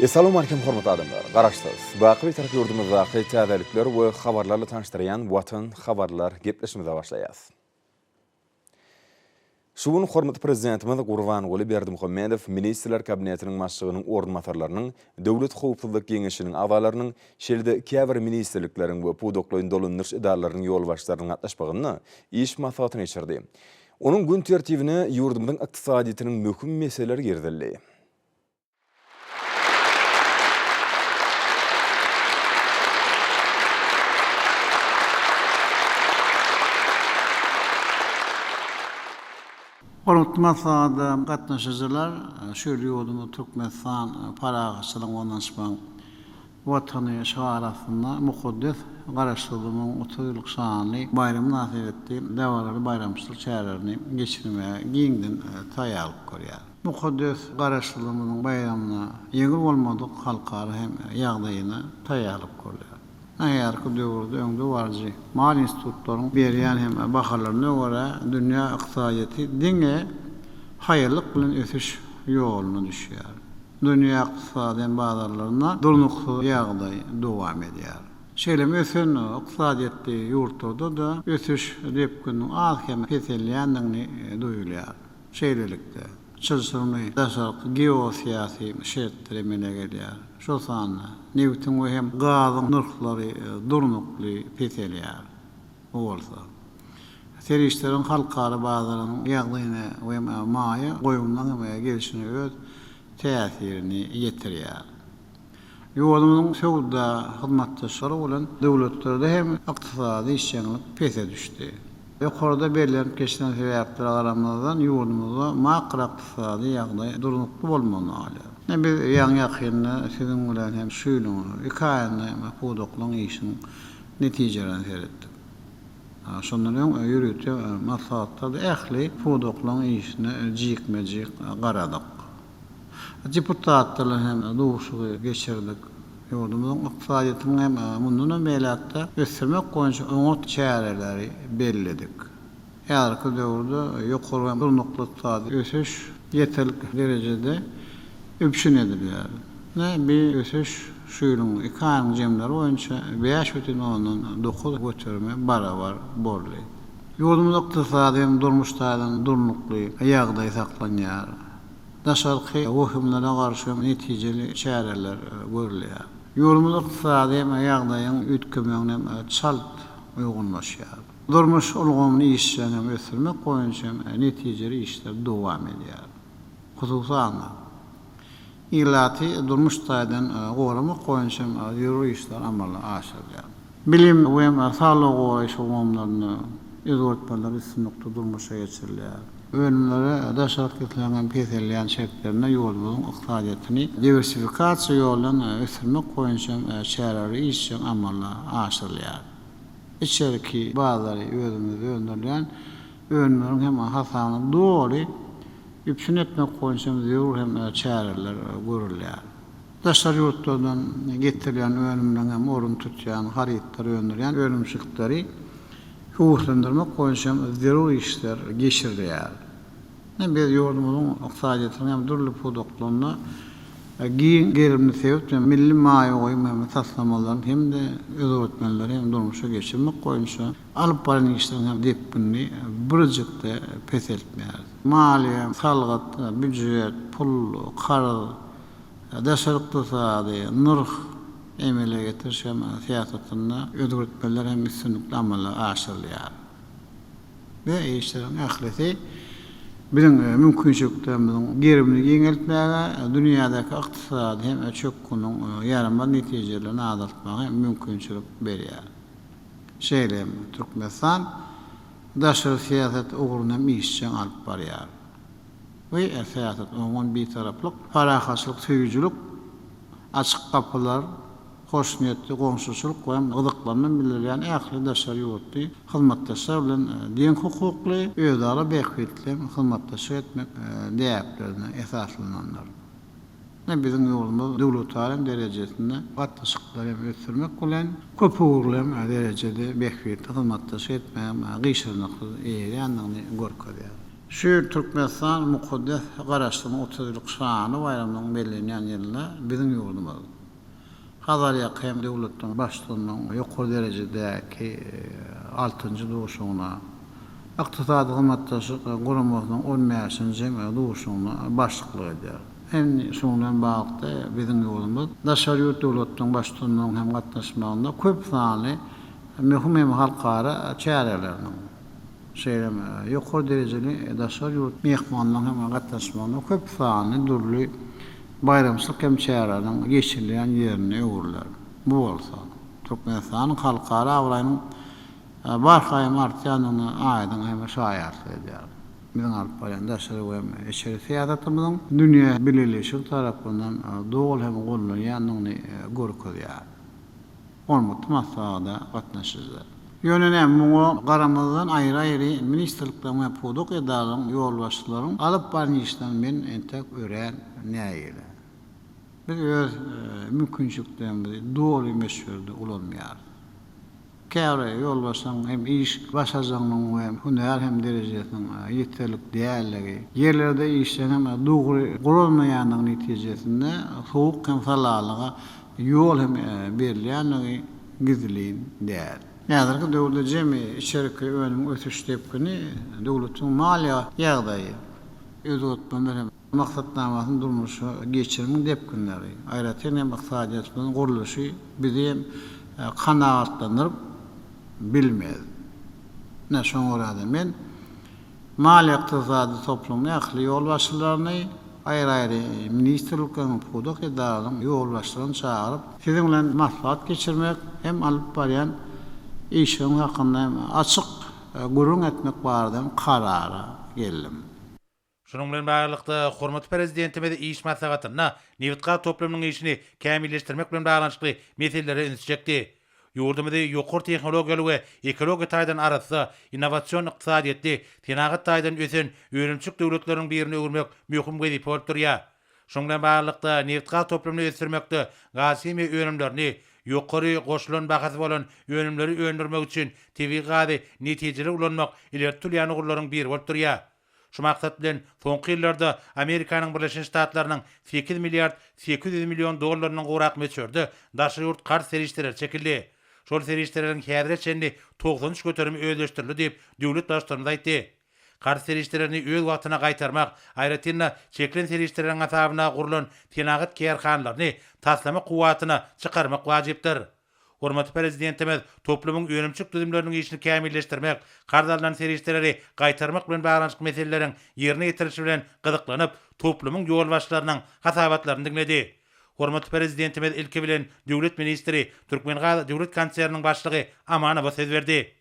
Essalamu aleykum hormatly adamlar! Garaşsyz, baky Bitarap ýurdumyzdaky täzelikler we habarlarla tanyşdyrýan Watan habarlar gepleşimize başlaýas. Şu gün hormatly Prezidentimiz Gurbanguly Berdimuhamedow Ministrler Kabinetiniň Başlygynyň orunbasarlarynyň, Döwlet howpsuzlyk geňeşiniň agzalarynyň, şeýle-de käbir ministrlikleriň we pudaklaýyn dolandyryş edaralarynyň ýolbaşçylarynyň gatnaşmagynda iş maslahatyny geçirdi. Onuň gün tertibine ýurdumyzyň ykdysadyýetiniň möhüm meseleleri girizildi. Hormatly maslahata gatnaşyjylar, şol ýurdumyz Türkmenistan parahatçylygyň, gonançmagyň, Watany şygary astynda mukaddes Garaşsyzlygyň otuz ýyllyk şanly baýramy mynasybetli dabaraly baýramçylyk çärelerini geçirmäge giňden taýýarlyk görýär. Mukaddes Garaşsyzlygymyzyň baýramyna ýeňil bolmadyk halkara hem ýagdaýyna taýýarlyk görýär. Nähäzirki döwürde öňde baryjy maýa institutlaryň berýän hem bahalaryna görä, dünýä ykdysadyýeti diňe haýallyk bilen ösüş ýoluna düşýär. Dünýä ykdysady bazarlarynda durnuksyz ýagdaý dowam edýär. Şeýle hem ösen ykdysadyýetli ýurtlarda-da ösüş depgininiň az-kem peselýändigini duýulýar. Şeýlelikde, çylşyrymly daşarky geosyýasy şertler emele gelýär. Şol sanda nebitiň we hem gazyň nyrhlary durnukly peselýär. Bu bolsa, serişdeleriň halkara bazaryň ýagdaýyna we maýa goýumlaryň gelşine öz täsirini ýetirýär. Ýurdumyzyň söwda hyzmatdaşlary bolan döwletlerde hem ykdysady işjeňlik pese düşdi. Ýokarda bellenip geçilen sebäplere garamazdan, ýurdumyzda makroykdysady ýagdaý durnukly bolmagyny alýar. Ine, biz ýaňy-ýakynda siziň bilen hem şu ýylyň iki aýynda pudaklaryň işiniň netijeleriň seretdik. Şondan öň ýörite maslahatlarda ähli pudaklaryň işine jikme-jik garadyk. Deputatlarla hem duşuşygy geçirdik. Ýurdumyzyň ykdysadyýetini hem mundanam beýläk-de ösdürmek boýunça oňat çäreleri belledik. Häzirki döwürde ýokary hem durnukly ykdysady ösüş ýeterlik derejede üpjün edilýär. Ine, bi ösüş şu ýylyň iki aýyň jemleri boýunça bäş bütin ondan dokuz göterime barabar boldy. Ýurdumyzda ykdysady hem durmuş taýdan durnukly ýagdaý saklanýar. Daşarky wehimlere garşy hem netijeli çäreler görülýär. Ýurdumyz ykdysady hem ýagdaýyň üýtgemegine hem çalt uýgunlaşýar. Durmuş ulgamyny işjeň hem ösdürmek boýunça hem netijeli işler dowam edýär. Hususan-da, ilaty durmuş taýdan goramak boýunça hem zerur işler amala aşyrylýar. Bilim we saglygy goraýyş ulgamlarynda özgertmeler üstünlikli durmuşa geçirilýär. Önümlere daş alyp gitmegiň peselýän şertlerinde ýurdumyzyň ykdysadyýetini diwersifikasiýa ýoly bilen ösdürmek boýunça hem çäreleri işjeň amala aşyrylýar. içerki bazary özümizde öndürilýän önümleriň hem hasabyna doly üpjün etmek boýunça hem zerur hem çäreler görülýär. Daşary ýurtlardan getirilýän önümleriň hem ornuny tutýan harytlary öndürýän önümçilikleri höweslendirmek boýunça hem zerur işler geçirilýär. Hem biz ýurdumyzyň ykdysadyýetiniň hem dürli pudaklarynda giň gerimli sebit we milli maýa goýum hem taslamalaryny hem-de özgertmeleri hem durmuşa geçirmek boýunça alyp baran işleriň hem depginini birjik-de peseltmeýäris. Maliýe, salgyt, býujet, pul, karz, daşary ykdysady, nyrh, emele getiriş hem syýasatynda özgertmeler hem üstünlikli amala aşyrylýar. we işleriň ählisi biziň mümkinçiliklerimiziň gerimini giňeltmäge, dünýädäki ykdysady hem çökgüniň ýaramaz netijelerini azaltmaga hem mümkinçilik berýär. Şeýle hem Türkmenistan daşary syýasat ugruny hem işjeň alyp barýar. Bu syýasat oňyn bitaraplyk, parahatçylyk söýüjilik, açyk gapylar, hoşniýetli goňşuçylyk we gyzyklanma bildirýän ähli daşary ýurtly hyzmatdaşlar bilen deň hukukly, özara bähbitleýin hyzmatdaşlyk etmek däplerine esaslanandyr. Ine, biziň ýurdumyz döwletara derejesinde gatnaşyklary hem ösdürmek bilen, köpugurly hem derejede bähbitli hyzmatdaşlyk etmäge gyşarnyksyz eýerýändigini görkezýär. Şu ýyl Türkmenistan mukaddes Garaşsyzlygyň otuz ýyllyk şanly baýramynyň bellenýän ýylynda biziň ýurdumyz, Hazarýaka hem döwletleň başlygynyň ýokary derejedäki altynjy duşugyna, Ykdysady Hyzmatdaşlyk Guramasynyň on bäşinji duşugyna başlyklyk edýär. Indi şunuň bilen baglylykda, biziň ýurdumyz daşary ýurt döwletleň başlygynyň hem gatnaşmagynda köp sanly möhüm hem halkara çäreleriniň, şeýle hem ýokary derejeli daşary ýurt myhmanlarynyň hem gatnaşmagynda köp sanly dürli baýramçylyk hem çäreleriniň geçirilýän ýerine öwrüler. Bu bolsa, Türkmenistanyň halkara abraýynyň barha-hem artýandygyna aýdyň hem şaýatlyk edýär. Biziň alyp barýan daşary we hem içeri syýasatymyzyň dünýä bileleşigi tarapyndan doly hem gollanýandygyny görkezýär. Ormutly maslahata gatnaşyjylar. Ýöne näme, muňa garamazdan aýry-aýry ministrlikleriň we pudak edaralaryň ýolbaşçylaryň alyp baran işlerini men entek örän nägile. Biz öz mümkinçiliklerimizi doly möçberde ulanmaýarys. Käbir ýolbaşçylaryň hem iş başarjagynyň we hünär hem derejesiniň ýeterlik däldigi, ýerlerde işleriň hem dogry guralmaýandygy netijesinde sowuk hem salalyga ýol hem berilýändigi gizlin däl. Häzirki döwürde jemi içerki önümiň ösüş depgini, döwletiň maliýe ýagdaýy, özgertmeler hem maksatnamasyny durmuşa geçirimiň depginleri, aýratyn hem ykdysadyýetimiziň gurluşy bizi hem kanagatlandyryp bilmez. Ine, şoňa görä-de men. Maliýe-ykdysady toplumyň ähli ýolbaşçylaryny, aýry-aýry ministrlikleriň, pudak edaralaryň ýolbaşçylaryny çagyryp, siziň bilen maslahat geçirmek hem alyp barýan işiňiz hakynda hem açyk gürrüň etmek barada karara geldim. Şunuň bilen baglylykda, hormatly Prezidentimiz iş maslahatynda nebitgaz toplumynyň işini kämilleşdirmek bilen baglanyşykly meselelere üns çekdi. Ýurdumyzy ýokary tehnologiýaly we ekologiýa taýdan arassa, innowasion ykdysadyýetli, senagat taýdan ösen önümçilik döwletleriniň birine öwürmek möhüm wezipe bolup durýar. Şunuň bilen baglylykda, nebitgaz toplumyny ösdürmekde gazhimiýa önümlerini, ýokary goşulan bahasy bolan önümleri öndürmek üçin tebigy gazy netijeli ulanmak ileri tutulýan ugurlaryň biri bolup durýar. Şu maksat bilen, soňky ýyllarda Amerikanyň Birleşen Ştatlarynyň sekiz milliard sekiz ýüz million dollaryndan gowrak möçberde daşary ýurt karz serişdeleri çekildi. Şol serişdeleriň häzire çenli togsan üç göterimi özleşdirildi diýip, döwlet Baştutanymyz aýtdy. Karz serişdelerini öz wagtyna gaýtarmak, aýratyn-da, çekilen serişdeleriň hasabyna gurlan senagat kärhanalaryny taslama kuwwatyna çykarmak wajypdyr. Hormatly Prezidentimiz toplumyň önümçilik düzümleriniň işini kämilleşdirmek, karz alnan serişdeleri gaýtarmak bilen baglanyşykly meseleleriň ýerine ýetirilişi bilen gyzyklanyp, toplumyň ýolbaşçylarynyň hasabatlaryny diňledi. Hormatly Prezidentimiz ilki bilen döwlet ministri, Türkmengaz döwlet konserniniň başlygy Amanowa söz berdi.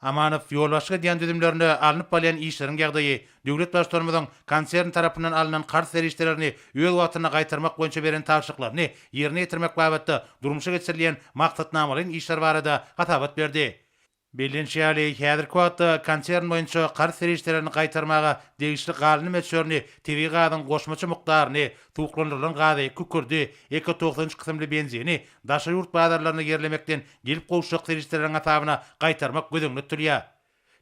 Amanow ýolbaşçyk edýän düzümlerinde alnyp balýan işleriň ýagdaýy, döwlet Baştutanymyzyň konsern tarapyndan alnan karz serişdelerini öz wagtynda gaýtarmak boýunça beren tabşyryklaryny ýerine ýetirmek babatda durmuşa geçirilýän maksatnamalaýyn işler barada hasabat berdi. Bellenişi ýaly, häzirki wagtda konsern boýunça karz serişdelerini gaýtarmaga degişli galyny möçberini, tebigy gazyň goşmaça mukdaryny, suwuklandyrylan gazy, kükürdi, Eko togsan üç kysymly benzini daşary ýurt bazarlaryna ýerlemekden gelip gowuşjak serişdeleriň hasabyna gaýtarmak göz öňünde tutulýar.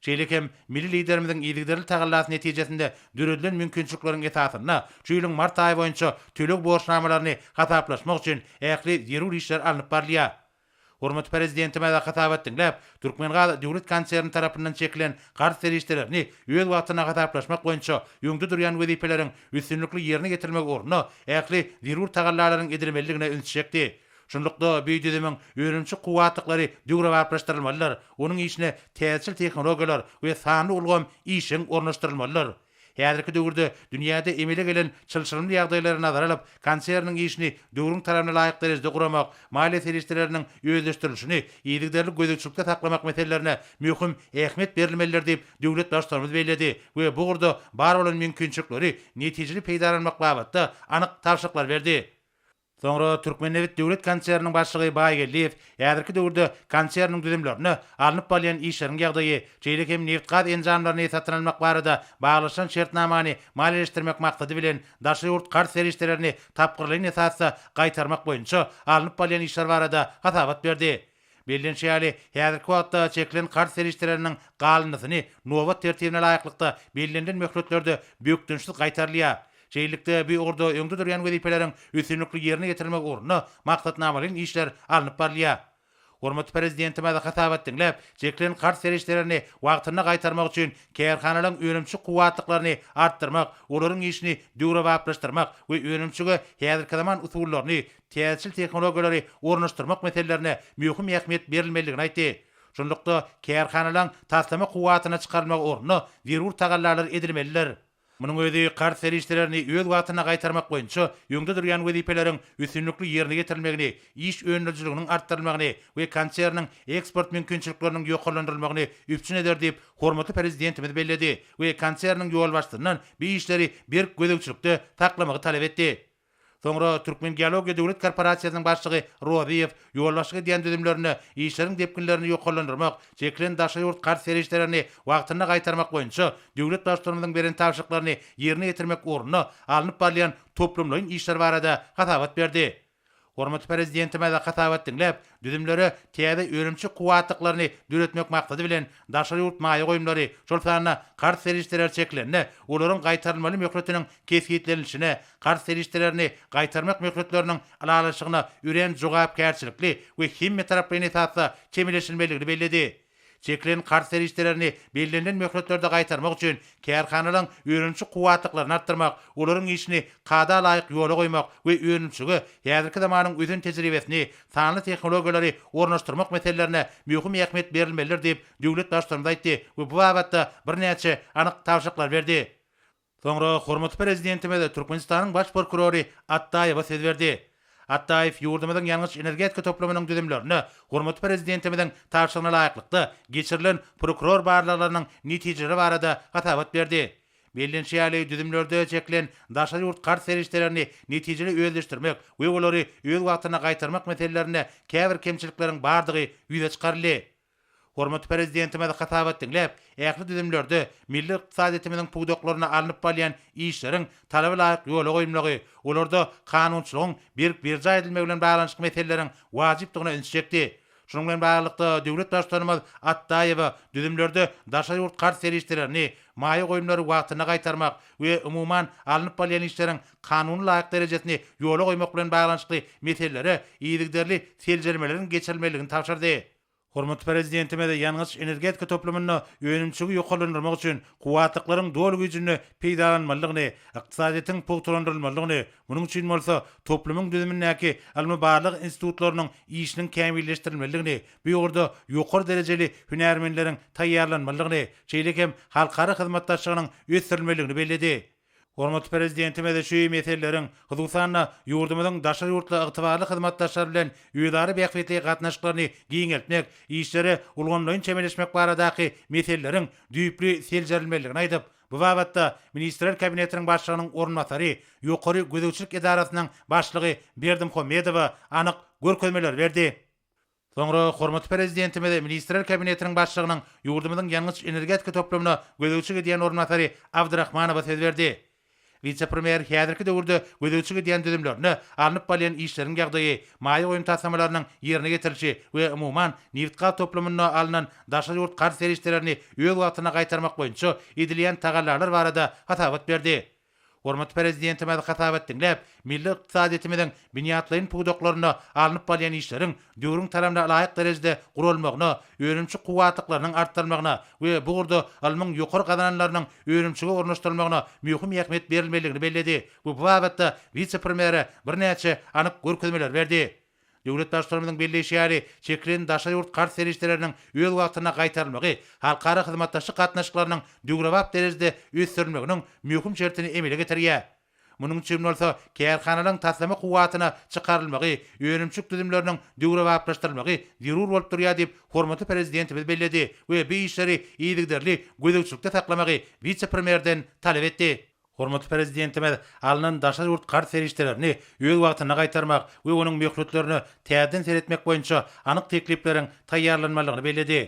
Şeýle hem milli Liderimiziň yzygiderli tagallasy netijesinde döredilen mümkinçilikleriň esasynda şu ýylyň mart aýy boýunça töleg borçnamalaryny hasaplaşmak üçin ähli zerur işler alnyp barylýar. Hormatly Prezidentimize hasabat diňläp, Türkmengaz döwlet konserni tarapyndan çekilen garz serişdelerini öz wagtynda hasaplaşmak boýunça öňde durýan wezipeleriň üstünlikli ýerine ýetirilmegi ugrunda ähli zerur tagallalaryň edilmelidigine ünsi çekdi. Şunlukda, bu düzümiň önümçi kuwwatlyklary döwrebaplaşdyrylmalydyr, onuň işine täzeçil tehnologiýalar we sanly ulgam işjeň ornaşdyrylmalydyr. Häzirki döwürde dünýäde emele gelen çylşyrymly ýagdaýlary nazara alyp, konserniň işini döwrüň talabyna laýyk derejede guramak, maliýe serişdeleriniň özleşdirilişini yzygiderli gözegçilikde saklamak meselelerine möhüm ähmiýet berilmelidir diýip, döwlet Baştutanymyz belledi we bu ugurda bar bolan mümkinçilikleri netijeli peýdalanmak babatda anyk tabşyryklar berdi. Soňra Türkmennebit döwlet konserniniň başlygy Baýgeldiýew häzirki döwürde konserniň düzümlerinde alnyp barylýan işleriň ýagdaýy, şeýle hem nebit-gaz enjamlaryny satyn almak barada baglaşylan şertnamany maliýeleşdirmek maksady bilen daşary ýurt karz serişdelerini tapgyrlaýyn esasda gaýtarmak boýunça alnyp barylýan işler barada hasabat berdi. Bellenişi ýaly, häzirki wagtda çekilen karz serişdeleriniň galyndysyny nobat tertibine laýyklykda bellenilen möhletlerde bökdençsiz gaýtarylýar. Şeýlelikde, bu ugurda öňde durýan wezipeleriň üstünlikli ýerine ýetirilmegi ugrunda maksatnamalaýyn işler alnyp barylýar. Hormatly Prezidentimiz hasabat diňläp, çekilen karz serişdelerini wagtynda gaýtarmak üçin kärhanalaryň önümçi kuwwatlyklaryny artdyrmak, olaryň işini döwrebaplaşdyrmak we önümçige häzirki zaman usullaryny, täzeçil tehnologiýalary ornaşdyrmak meselelerine möhüm ähmiýet berilmelidigini aýtdy. Şunlukda, kärhanalaryň taslama kuwwatyna çykarylmagy ugrunda zerur tagallalar edilmelidir. Munuň özi karz serişdelerini öz wagtynda gaýtarmak boýunça öňde durýan wezipeleriň üstünlikli ýerine ýetirilmegini, iş önerijiliginiň artdyrylmagyny we konserniň eksport mümkinçilikleriniň ýokarlandyrylmagyny üpjün eder diýip, hormatly Prezidentimiz belledi we konserniň ýolbaşçysyndan bu işleri berk gözegçilikde saklamagy talap etdi. Soňra Türkmengeologiýa döwlet korporasiýasynyň başlygy Rozyýew ýolbaşçylyk edýän düzümlerinde işleriň depginlerini ýokarlandyrmak, çekilen daşary ýurt karz serişdelerini wagtynda gaýtarmak boýunça döwlet Baştutanymyzyň beren tabşyryklaryny ýerine ýetirmek ugrunda alnyp barylýan toplumlaýyn işler barada hasabat berdi. Hormatly Prezidentimiz hasabat diňläp, Düzümlere täze önümçi kuwwatlyklaryny döretmek maksady bilen, daşary ýurt maýa goýumlary, şol sanda karz serişdeleri çekilende, olaryň gaýtarylmaly möhletiniň kesgitlenilişine, karz serişdelerini gaýtarmak möhletleriniň ylalaşygyna örän jogapkärçilikli we hemmetaraplaýyn esasda çemeleşilmelidigini belledi. Çekilen karz serişdelerini bellenilen möhletlerde gaýtarmak üçin kärhanalaryň önümçi kuwwatlyklaryny artdyrmak, olaryň işini kada laýyk ýola goýmak we önümçilige häzirki zamanyň ösen tejribesini, sanly tehnologiýalary ornaşdyrmak meselelerine möhüm ähmiýet berilmelidir diýip, döwlet Baştutanymyz aýtdy we bu babatda birnäçe anyk tabşyryklar berdi. Soňra hormatly Prezidentimiz Türkmenistanyň Baş prokurory Atdaýewa söz berdi. Atdaýew ýurdumyzyň ýangyç-energetika toplumynyň düzümlerine hormatly Prezidentimiziň tabşyrygyna laýyklykda geçirilen prokuror barlaglarynyň netijeleri barada hasabat berdi. Bellenişi ýaly, düzümlerde çekilen daşary ýurt karz serişdelerini netijeli özleşdirmek we olary öz wagtynda gaýtarmak meselelerinde käbir kemçilikleriň bardygy ýüze çykaryldy. Hormatly Prezidentimiz hasabat diňläp, ähli düzümlerde milli ykdysadyýetimiziň pudaklarynda alnyp barylýan işleriň talaba laýyk ýola goýulmagy, olarda kanunçylygyň berk berjaý edilmegi bilen baglanyşykly meseleleriň wajypdygyna ünsi çekdi. Şunuň bilen baglylykda, döwlet Baştutanymyz Atdaýewa düzümlerde daşary ýurt karz serişdelerini, maýa goýumlary wagtynda gaýtarmak we umuman, alnyp barylýan işleriň kanuna laýyk derejesini ýola goýmak bilen baglanyşykly meselelere yzygiderli seljermeleriň geçirilmelidigini tabşyrdy. Hormatly Prezidentimiz ýangyç-energetika toplumynda önümçiligi ýokarlandyrmak üçin kuwwatlyklaryň doly güýjünde peýdalanylmalydygyny, ykdysadyýetiň pugtalandyrylmalydygyny, munuň üçin bolsa toplumyň düzümindäki ylmy-barlag institutlarynyň işiniň kämilleşdirilmelidigini, bu ugurda ýokary derejeli hünärmenleriň taýýarlanmalydygyny, şeýle hem halkara hyzmatdaşlygynyň ösdürilmelidigini belledi. Hormatly Prezidentimiz şu meseleleriň, hususan-da, ýurdumyzyň daşary ýurtly ygtybarly hyzmatdaşlar bilen özara bähbitli gatnaşyklaryny giňeltmek, işlere ulgamlaýyn çemeleşmek baradaky meseleleriň düýpli seljerilmelidigini aýdyp, bu babatda Ministrler Kabinetiniň Başlygynyň orunbasary, Ýokary gözegçilik edarasynyň başlygy Berdimuhamedowa anyk görkezmeleri berdi. Soňra hormatly Prezidentimiz Ministrler Kabinetiniň Başlygynyň ýurdumyzyň ýangyç-energetika toplumyna gözegçilik edýän orunbasary Abdrahmanowa söz berdi. Wise-premýer häzirki döwürde gözegçilik edýän düzümlerine, alnyp barylýan işleriň ýagdaýy, maýa goýum taslamalarynyň ýerine getirilişi we umuman, nebit-gaz toplumynda alnan daşary ýurt karz serişdelerini öz wagtynda gaýtarmak boýunça edilýän tagallalar barada hasabat berdi. Hormatly Prezidentimiz hasap et diňläp, milli ykdysadyýetimiziň binýatlaýyn pudaklarynda alnyp barylýan işleriň döwrüň talabna laýyk derejede guralmagyna, önümçi kuwwatlyklarynyň artdyrylmagyna we bu ugurda ylmyň ýokary gazananlarynyň önümçige ornaşdyrylmagyna möhüm ähmiýet berilmelidigini belledi we bu babatda wise-premýere birnäçe anyk görkezmeleri berdi. Döwlet Baştutanymyzyň belleýşi ýaly, çekilen daşary ýurt karz serişdeleriniň öz wagtynda gaýtarylmagy halkara hyzmatdaşlyk gatnaşyklarynyň döwrebap derejede ösdürilmeginiň möhüm şertini emele getirýär. Munuň üçin bolsa kärhanalaryň taslama kuwwatyna çykarylmagy, önümçilik düzümleriniň döwrebaplaşdyrylmagy zerur bolup durýar diýip, hormatly Prezidentimiz belledi we bu işleri yzygiderli gözegçilikde saklamagy wise-premýerden talap etdi. Hormatly Prezidentimiz alnan daşary ýurt karz serişdelerini öz wagtynda gaýtarmak we onuň möhletlerine täzeden seretmek boýunça anyk teklipleriň taýýarlanmalydygyny belledi.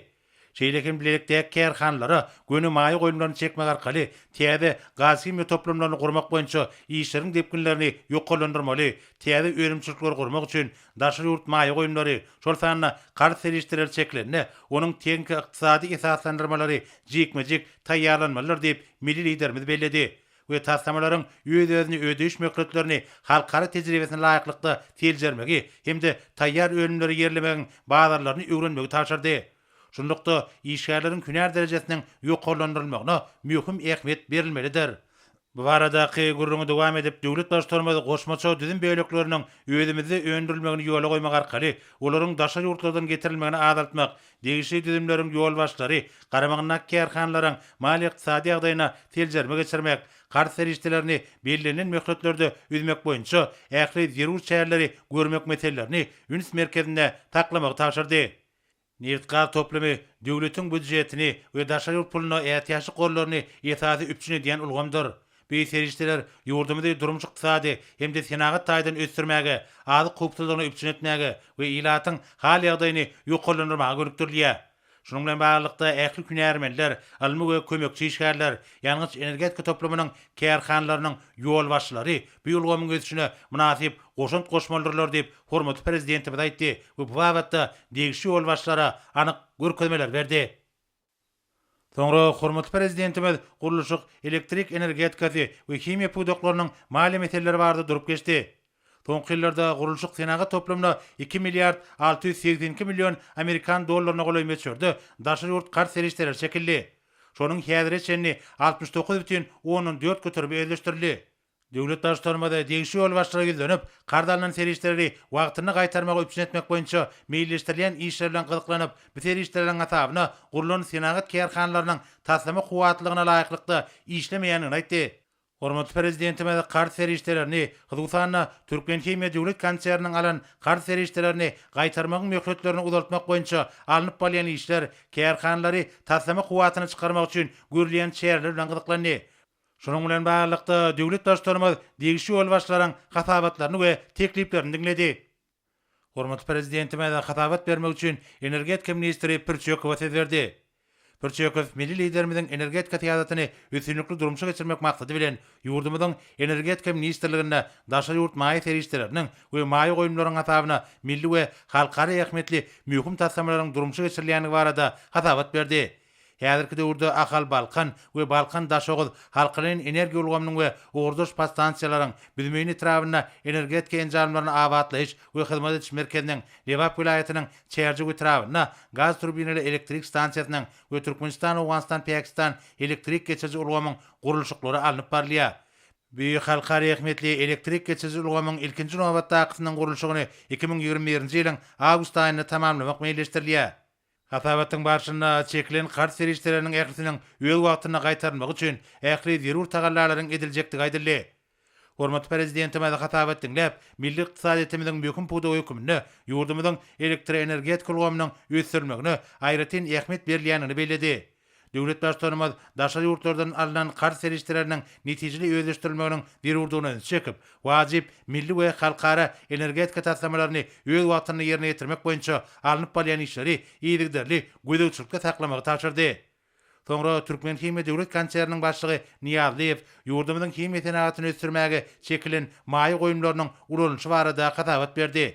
Şeýle hem bilelikdäki kärhanalara göni maýa goýumlaryny çekmek arkaly täze gazhimiýa toplumlaryny gurmak boýunça işleriň depginlerini ýokarlandyrmaly, täze önümçilikleri gurmak üçin Daşary ýurt maýa goýumlary, şol sanda karz serişdeleri çekilende, onuň tehniki-ykdysady esaslandyrmalary jikme-jik taýýarlanmalydyr diýip, milli Liderimiz belledi we taslamalaryň öz-özüni ödeýiş möhletlerini halkara tejribesine laýyklykda seljermegi hem-de taýýar önümleri ýerlemegiň bazarlaryny öwrenmegi tabşyrdy. Şunlukda, işgärleriň hünär derejesiniň ýokarlandyrylmagyna möhüm ähmiýet berilmelidir. Bu baradaky gürrüňi dowam edip, döwlet Baştutanymyz goşmaça düzüm bölekleriniň özümizde öndürilmegini ýola goýmak arkaly, olaryň daşary ýurtlardan getirilmegini azaltmak, degişli düzümleriň ýolbaşçylary garamagyndaky kärhanalaryň maliýe-ykdysady ýagdaýyna seljerme geçirmek, karz serişdelerini bellenilen möhletlerde üzmek boýunça ähli zerur çäreleri görmek meselelerini üns merkezinde saklamagy tabşyrdy. Nebit-gaz toplumy döwletiň býudjetini we daşary ýurt puluna ätiýaçlyk gorlaryny esasy üpjün edýän ulgamdyr. Bu serişdeler ýurdumyzy durmuş-ykdysady hem-de senagat taýdan ösdürmäge, azyk howpsuzlygyny üpjün etmäge we ilatyň hal-ýagdaýyny ýokarlandyrmaga gönükdirilýär. Şunuň bilen baglylykda, ähli hünärmenler, ylmy we kömekçi işgärler, ýangyç-energetika toplumynyň kärhanalarynyň ýolbaşçylary bu ulgamyň ösüşine mynasyp goşant goşmalydyrlar diýip, hormatly Prezidentimiz aýtdy we bu babatda degişli ýolbaşçylara anyk görkezmeler berdi. Soňra hormatly Prezidentimiz gurluşyk, elektrik energetikasy we himiýa pudaklarynyň maliýe meseleleri barada durup geçdi. Soňky ýyllarda gurluşyk senagat toplumyna iki milliard alty ýüz segsen iki million amerikan dollaryna golaý möçberde daşary ýurt karz serişdeleri çekildi. Şonuň häzire çenli altmyş dokuz bütin ondan dört göterimi özleşdirildi. Döwlet Baştutanymyz degişli ýolbaşçylygy ýüzlenip, karz alnan serişdeleri wagtynda gaýtarmagy üpjün etmek boýunça meýilleşdirilýän işler bilen gyzyklanyp, bu serişdeleriň hasabyna gurlan senagat kärhanalarynyň taslama kuwwatlylygyna laýyklykda işlemeýändigini aýtdy. Hormatly Prezidentimiz karz serişdelerini, hususan-da, Türkmenhimiýa döwlet konserniniň alan karz serişdelerini gaýtarmagyň möhletlerini uzaltmak boýunça alnyp barylýan işler, kärhanalary taslama kuwwatyna çykarmak üçin görülýän çäreler bilen gyzyklandy. Şunuň bilen baglylykda, döwlet Baştutanymyz degişli ýolbaşçylaryň hasabatlaryny we tekliplerini diňledi. Hormatly Prezidentimiz hasabat bermek üçin energetika ministri Pir Çökowa söz berdi. Pir Çökow milli Liderimiziň energetika syýasatyny üstünlikli durmuşa geçirmek maksady bilen, ýurdumyzyň Energetika ministrliginde daşary ýurt maýa serişdeleriniň we maýa goýumlaryň hasabyna milli we halkara ähmiýetli möhüm taslamalaryň durmuşa geçirilýändigi barada hasabat berdi. Häzirki döwürde Ahal-Balkan we Balkan-Daşoguz halkaleýin energiýa ulgamynyň we ugurdaş podstansiýalaryň, Büzmeýin etrabynda Energetika enjamlaryny abatlaýyş we hyzmat ediş merkeziniň, Lebap welaýatynyň Çärjew etrabynda gaz turbinaly elektrik stansiýasynyň we Türkmenistan-Owganystan-Pakistan elektrik geçiriji ulgamyň gurluşyklary alnyp barylýar. Büýük halkara ähmiýetli elektrik geçiriji ulgamyň ilkinji nobatdakysynyň gurluşygyny iki müň ýigrimi birinji ýylyň awgust aýynda tamamlamak meýilleşdirilýär. Hasabatyň barşynda çekilen karz serişdeleriniň ählisiniň öz wagtynda gaýtarylmagy üçin ähli zerur tagallalaryň ediljekdigi aýdyldy. Hormatly Prezidentimiz hasabat diňläp, milli ykdysadyýetimiziň möhüm pudagy hökmünde ýurdumyzyň elektroenergetika ulgamynyň ösdürilmegine aýratyn ähmiýet berilýändigini belledi. Döwlet Baştutanymyz daşary ýurtlardan alnan karz serişdeleriniň netijeli özleşdirilmeginiň zerurdygyna ünsi çekip, wajyp milli we halkara energetika taslamalaryny öz wagtynda ýerine ýetirmek boýunça alnyp barylýan işleri yzygiderli gözegçilikde saklamagy tabşyrdy. Soňra Türkmenhimiýa döwlet konserniniň başlygy Nyýazlyýew ýurdumyzyň himiýa senagatyny ösdürmäge çekilen maýa goýumlarynyň ulanylyşy barada hasabat berdi.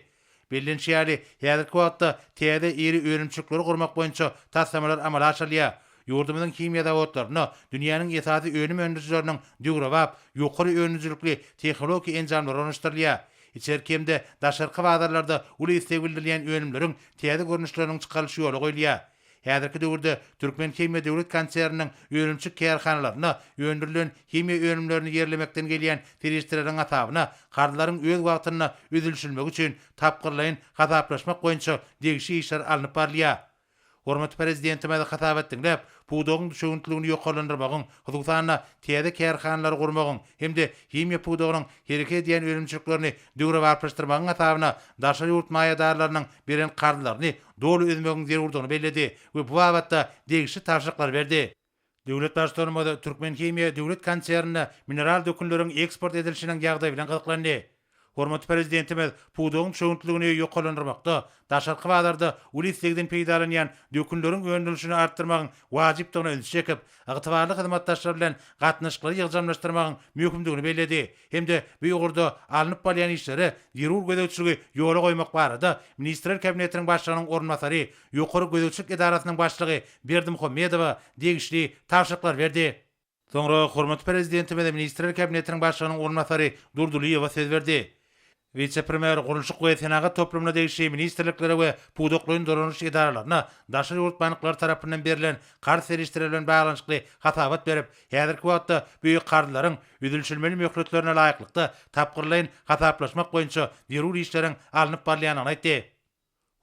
Bellenişi ýaly, häzirki wagtda täze iri önümçilikleri gurmak boýunça taslamalar amala aşyrylýar. Ýurdumyzyň himiýa zawodlarynda dünýäniň esasy önüm öndürijileriniň döwrebap, ýokary önümcilikli tehnologik enjamlary ornaşdyrylýar. Içerki hem-de daşarky bazarlarda uly isleg bildirilýän önümleriň täze görnüşleriniň çykarylyş ýola goýulýar. Häzirki döwürde Türkmenhimiýa döwlet konserniniň önümçi kärhanalarynda öndürilen himiýa önümlerini ýerlemekden gelýän serişdeleriň hasabyna karzlaryň öz wagtynda ödülişilmegi üçin tapgyrlaýyn hasaplaşmak boýunça degişi işler alnyp barylýar. Hormatly Prezidentimiz hasabat diňläp, pudagyň düşewüntligini ýokarlandyrmagyň, hususan-da, täze kärhanalary gurmagyň hem-de himiýa pudagynyň hereket edýän önümçiliklerini döwrebaplaşdyrmagyň hasabyna daşary ýurt maýadarlarynyň beren karzlaryny doly üzmegiň zerurdygyny belledi we bu babatda degişli tabşyryklary berdi. Döwlet Baştutanymyz Türkmenhimiýa döwlet konsernine mineral dökünleriň eksport edilişiniň ýagdaýy bilen gyzyklandy. Hormatly Prezidentimiz pudagyň çöwüntligini ýokarlandyrmakda, daşarky bazarda uly islegden peýdalanýan dökünleriň öndürilişini artdyrmagyň wajypdygyna ünsi çekip, ygtybarly hyzmatdaşlar bilen gatnaşyklary ýygjamlaşdyrmagyň möhümdigini belledi hem-de bu ugurda alnyp barylýan işlere zerur gözegçiligi ýola goýmak barada Ministrler Kabinetiniň Başlygynyň orunbasary, Ýokary gözegçilik edarasynyň başlygy Berdimuhamedowa degişli tabşyryklary berdi. Soňra hormatly Prezidentimiz Ministrler Kabinetiniň Başlygynyň orunbasary Durdylyýewa söz berdi. Wise-premýer gurluşyk we senagat toplumyna degişli ministrliklere we pudaklaýyn dolanyş edaralaryna daşary ýurt banklary tarapyndan berlen karz serişdeleri bilen baglanyşykly hasabat berip, häzirki wagtda bu karzlaryň üzülişilmeli möhletlerine laýyklykda tapgyrlaýyn hasaplaşmak boýunça zerur işleriň alnyp barylýandygyny aýtdy.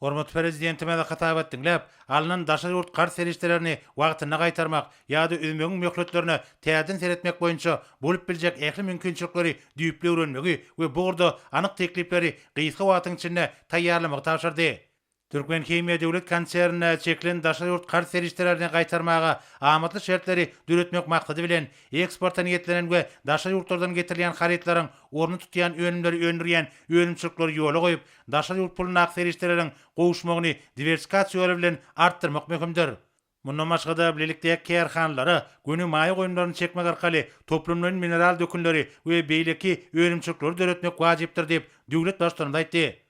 Hormatly Prezidentimize hasabat diňläp, alnan daşary ýurt karz serişdelerini wagtynda gaýtarmak ýa-da üzmegiň möhletlerine täzeden seretmek boýunça bolup biljek ähli mümkinçilikleri düýpli öwrenmegi we bu ugurda anyk teklipleri gysga wagtyň içinde taýýarlamagy tabşyrdy. Türkmenhimiýa döwlet konsernine çekilen daşary ýurt karz serişdelerini gaýtarmaga amatly şertleri döretmek maksady bilen, eksporta niýetlenen we daşary ýurtlardan getirilýän harytlaryň ornuny tutýan önümleri öndürýän önümçilikleri ýola goýup, Daşary ýurt pulundaky serişdeleriň gowuşmagyny diwersikasiýa ýoly bilen artdyrmak möhümdir. Mundan başga-da, bilelikdäki kärhanalara göni maýa goýumlaryny çekmek arkaly toplumlaýyn mineral dökünleri we beýleki önümçilikleri döretmek wajypdyr diýip, döwlet Baştutanymyz aýtdy.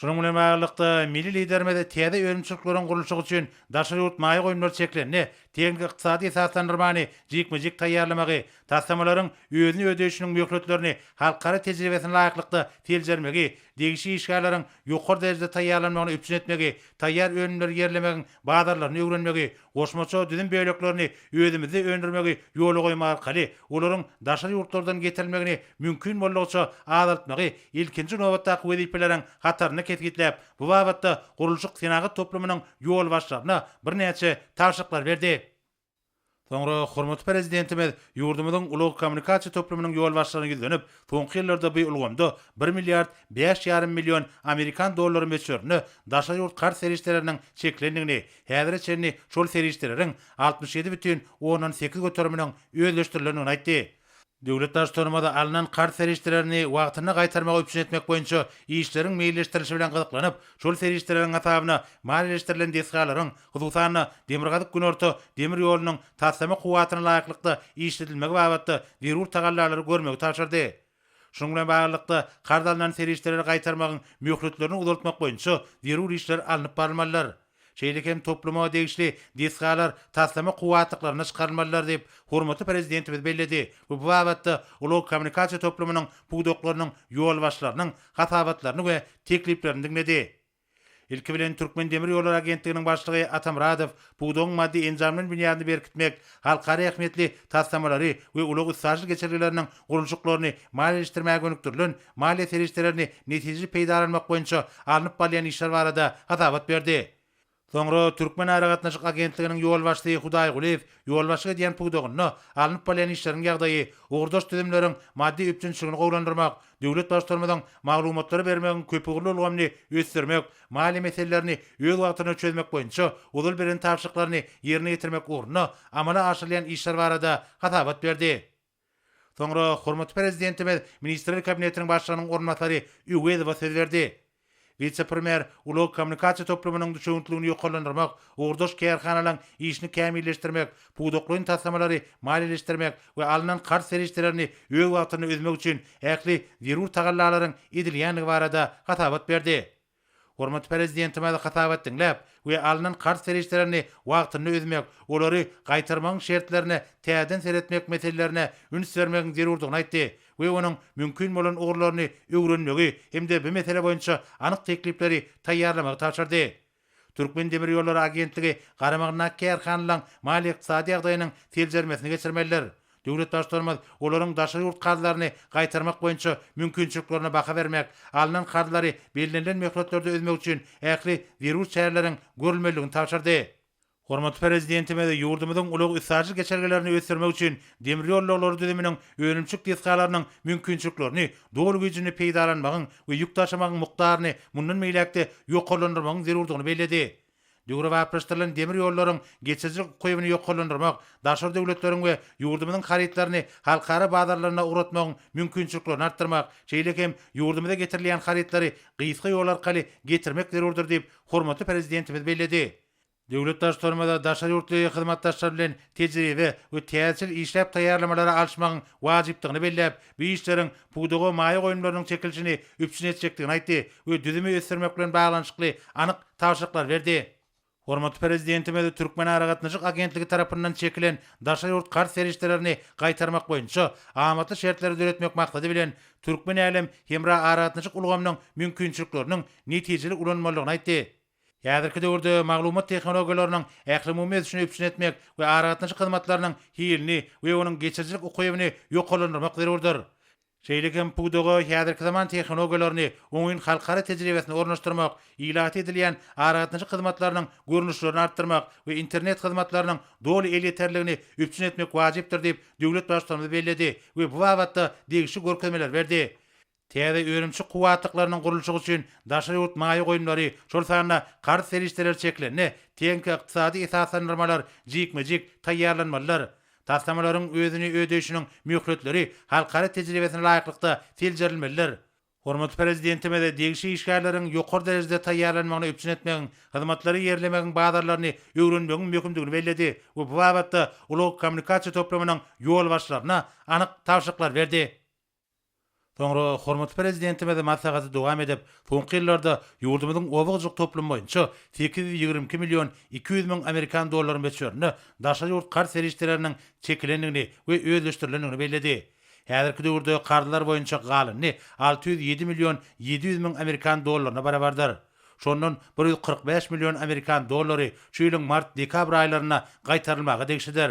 Şunuň bilen baglylykda, milli Liderimiz täze önümçilikleriň gurluşygy üçin daşary ýurt maýa goýumlary çeklende, tehniki-ykdysady esaslandyrmany jikme-jik taýýarlamagy, taslamalaryň özüni ödeýşiniň möhletlerini halkara tejribesine laýyklykda seljermegi degişli işgärleriň ýokary derejede taýýarlanmagyny üpjün etmegi, taýýar önümleri ýerlemegiň bazarlaryny öwrenmegi, goşmaça düzüm böleklerini özümizde öndürmegi ýola goýmak arkaly olaryň daşary ýurtlardan getirilmegini mümkin boldugyça azaltmagy ilkinji nobatdaky wezipeleriň hatarynda kesgitläp, bu babatda gurluşyk-senagat toplumynyň ýolbaşçylaryna birnäçe tabşyryklar berdi. Soňra hormatly Prezidentimiz ýurdumyzyň ulag-kommunikasiýa toplumynyň ýolbaşçylaryna ýüzlenip, soňky ýyllarda bu ulgamda bir milliard bäş ýarym million amerikan dollary möçberinde daşary ýurt karz serişdeleriniň çekilendigini, häzire çenli şol serişdeleriň altmyş ýedi bütin ondan sekiz göteriminiň özleşdirilendigini aýtdy. Döwlet Baştutanymyz alnan karz serişdelerini wagtynda gaýtarmagy üpjün etmek boýunça işleriň meýilleşdirilişi bilen gyzyklanyp, şol serişdeleriň hasabyna maliýeleşdirilen desgalaryň, hususan-da, Demirgazyk-Günorta demir ýolunyň taslama kuwwatyna laýyklykda işledilmegi babatda zerur tagallalary görmegi tabşyrdy. Şunuň bilen baglylykda, karz alnan serişdeleri gaýtarmagyň möhletlerini uzaltmak boýunça zerur işler alnyp barylmalydyr. Şeýle hem topluma degişli desgalar taslama kuwwatlyklarynda çykarylmalydyr diýip, hormatly Prezidentimiz belledi we bu babatda ulag kommunikasiýa toplumynyň pudaklarynyň ýolbaşçylarynyň hasabatlaryny we tekliplerini diňledi. Ilki bilen, Türkmendemirýollary agentliginiň başlygy Atamyradow pudagyň maddy-enjam bilen binýadyny berkitmek, halkara ähmiýetli taslamalary we ulag-üstaşyr geçelgeleriniň gurluşyklaryny maliýeleşdirmäge gönükdirilen maliýe serişdelerini netijeli peýdalanmak boýunça alnyp barylýan işler barada hasabat berdi. Soňra Türkmenaragatnaşyk agentliginiň ýolbaşçysy Hudaý Gulyýew ýolbaşçylyk edýän pudagynda alnyp barylýan işleriň ýagdaýy, ugurdaş düzümleriň maddy üpjünçiligini gowulandyrmak, döwlet Baştutanymyzyň maglumatlary bermegiň köpugurly ulgamyny ösdürmek, maliýe meselelerini öz wagtynda çözmek boýunça ozal beren tabşyryklaryny ýerine ýetirmek ugrunda amala aşyrylýan işler barada hasabat berdi. Soňra hormatly Prezidentimiz Ministrler Kabinetiniň Başlygynyň orunbasary Öwezowa söz berdi. Wise-premýer ulag-kommunikasiýa toplumynyň düşewüntligini ýokarlandyrmak, ugurdaş kärhanalaryň işini kämilleşdirmek, pudaklaýyn taslamalary maliýeleşdirmek we alnan karz serişdelerini öz wagtynda üzmek üçin ähli zerur tagallalaryň edilýändigi barada hasabat berdi. Hormatly Prezidentimiz hasabat diňläp we alnan karz serişdelerini wagtynda ödemek, olary gaýtarmagyň şertlerine täzeden seretmek meselelerine üns bermegiň zerurdygyny aýtdy we onuň mümkin bolan ugurlaryny öwrenmegi hem-de bu mesele boýunça anyk teklipleri taýýarlamagy tabşyrdy. Türkmendemirýollary agentligi garamagyndaky kärhanalaryň maliýe-ykdysady ýagdaýynyň seljermesini geçirmelidir. Döwlet Baştutanymyz olaryň daşary ýurt karzlaryny gaýtarmak boýunça mümkinçiliklerine baha bermek, alnan karzlary bellenilen möhletlerde üzmek üçin ähli zerur çäreleriň görülmelidigini tabşyrdy. Hormatly Prezidentimiz ýurdumyzyň ulag-üstaşyr geçelgelerini ösdürmek üçin demir ýollaglary düzüminiň önümçilik desgalarynyň mümkinçiliklerini doly güýjünde peýdalanmagyň we ýük daşamagyň mukdaryny mundan beýläk-de ýokarlandyrmagyň zerurdygyny belledi. Döwrebaplaşdyrylan demir ýollaryň geçirijilik ukybyny ýokarlandyrmak, daşary döwletleriň we ýurdumyzyň harytlaryny halkara bazarlaryna ugratmagyň mümkinçiliklerini artdyrmak, şeýle hem ýurdumyza getirilýän harytlary gysga ýol arkaly getirmek zerurdyr diýip, hormatly Prezidentimiz belledi. Döwlet Baştutanymyza daşary ýurtly hyzmatdaşlar bilen tejribe we täzeçil işläp taýýarlamalary alyşmagyň wajypdygyny belläp, bu işleriň pudaga maýa goýumlarynyň çekilişini üpjün etjekdigini aýtdy we düzümi ösdürmek bilen baglanyşykly anyk tabşyryklar berdi. Hormatly Prezidentimiz Türkmenaragatnaşyk agentligi tarapyndan çekilen daşary ýurt karz serişdelerini gaýtarmak boýunça amatly şertleri döretmek maksady bilen, Türkmen-Älem hemra aragatnaşyk ulgamynyň mümkinçilikleriniň netijeli ulanylmalydygyny aýtdy. Häzirki döwürde maglumat tehnologiýalarynyň ählumumy ösüşini üpjün etmek we aragatnaşyk hyzmatlarynyň hilini we onuň geçirijilik ukybyny ýokarlandyrmak zerurdyr. Şeýle hem pudaga häzirki zaman tehnologiýalaryny, oňyn halkara tejribesini ornaşdyrmak, ilata edilýän aragatnaşyk hyzmatlarynyň görnüşlerini artdyrmak we internet hyzmatlarynyň doly elýeterligini üpjün etmek wajypdyr diýip, döwlet Baştutanymyz belledi we bu babatda degişli görkezmeler berdi. Täze önümçi kuwwatlyklarynyň gurluşygy üçin daşary ýurt maýa goýumlary, şol sanda karz serişdeleri çekilende, tehniki ykdysady esaslandyrmalar jikme-jik taýýarlanmalydyr. Taslamalaryň özüni ödeýşiniň möhletleri halkara tejribesine laýyklykda seljerilmelidir. Hormatly Prezidentimiz degişli işgärleriň ýokary derejede taýýarlanmagyny üpjün etmegiň, hyzmatlary ýerlemegiň bazarlaryny öwrenmegiň möhümdigini belledi we bu babatda ulag-kommunikasiýa toplumynyň ýolbaşçylaryna anyk tabşyryklar berdi. Soňra hormatly Prezidentimiz maslahaty dowam edip, soňky ýyllarda ýurdumyzyň oba-hojalyk toplumy boýunça sekiz ýüz ýigrimi iki million iki ýüz müň amerikan dollary möçberinde daşary ýurt karz serişdeleriniň çekilendigini we özleşdirilendigini belledi. Häzirki döwürde karzlar boýunça galyny alty ýüz ýedi million ýedi ýüz müň amerikan dollaryna barabardyr. Şondan bir ýüz kyrk bäş million amerikan dollary şu ýylyň mart-dekabr aýlarynda gaýtarylmaga degişlidir.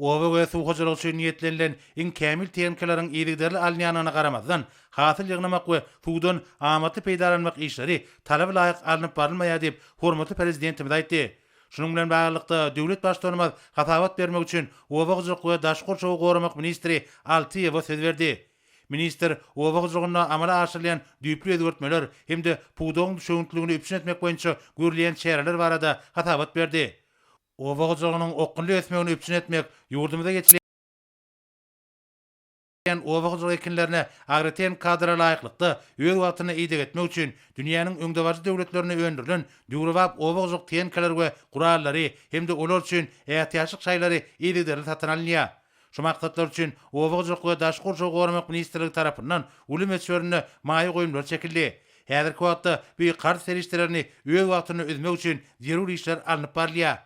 Oba we suw hojalygy üçin niýetlenilen iň kämil tehnikalaryň yzygiderli alynýandygyna garamazdan, hasyl ýygnamak we suwdan amatly peýdalanmak işleri talaba laýyk alnyp barylmaýar diýip, hormatly Prezidentimiz aýtdy. Şunuň bilen baglylykda, döwlet Baştutanymyz hasabat bermek üçin oba hojalyk we daşky gurşawy goramak ministri Altyýewa söz berdi. Ministr oba hojalygynda amala aşyrylýan düýpli özgertmeler hem-de pudagyň düşewüntliligini üpjün etmek boýunça görülýän çäreler barada hasabat berdi. Oba hojalygynyň okgunly ösmegini üpjün etmek, ýurdumyzda geçirilýän oba hojalygy ekinlerine agrotehniki kadra laýyklykda, öz wagtynda ideg etmek üçin dünýäniň öňdebaryjy döwletlerinde öndürilen döwrebap oba hojalyk tehnikalary we gurallary hem-de olar üçin ätiýaçlyk şaýlary yzygiderli satyn alynýar. Şu maksatlar üçin Oba hojalyk we daşky gurşawy goramak ministrligi tarapyndan uly möçberinde maýa goýumlar çekildi. Häzirki wagtda bu karz serişdelerini öz wagtynda üzmek üçin zerur işler alnyp barylýar.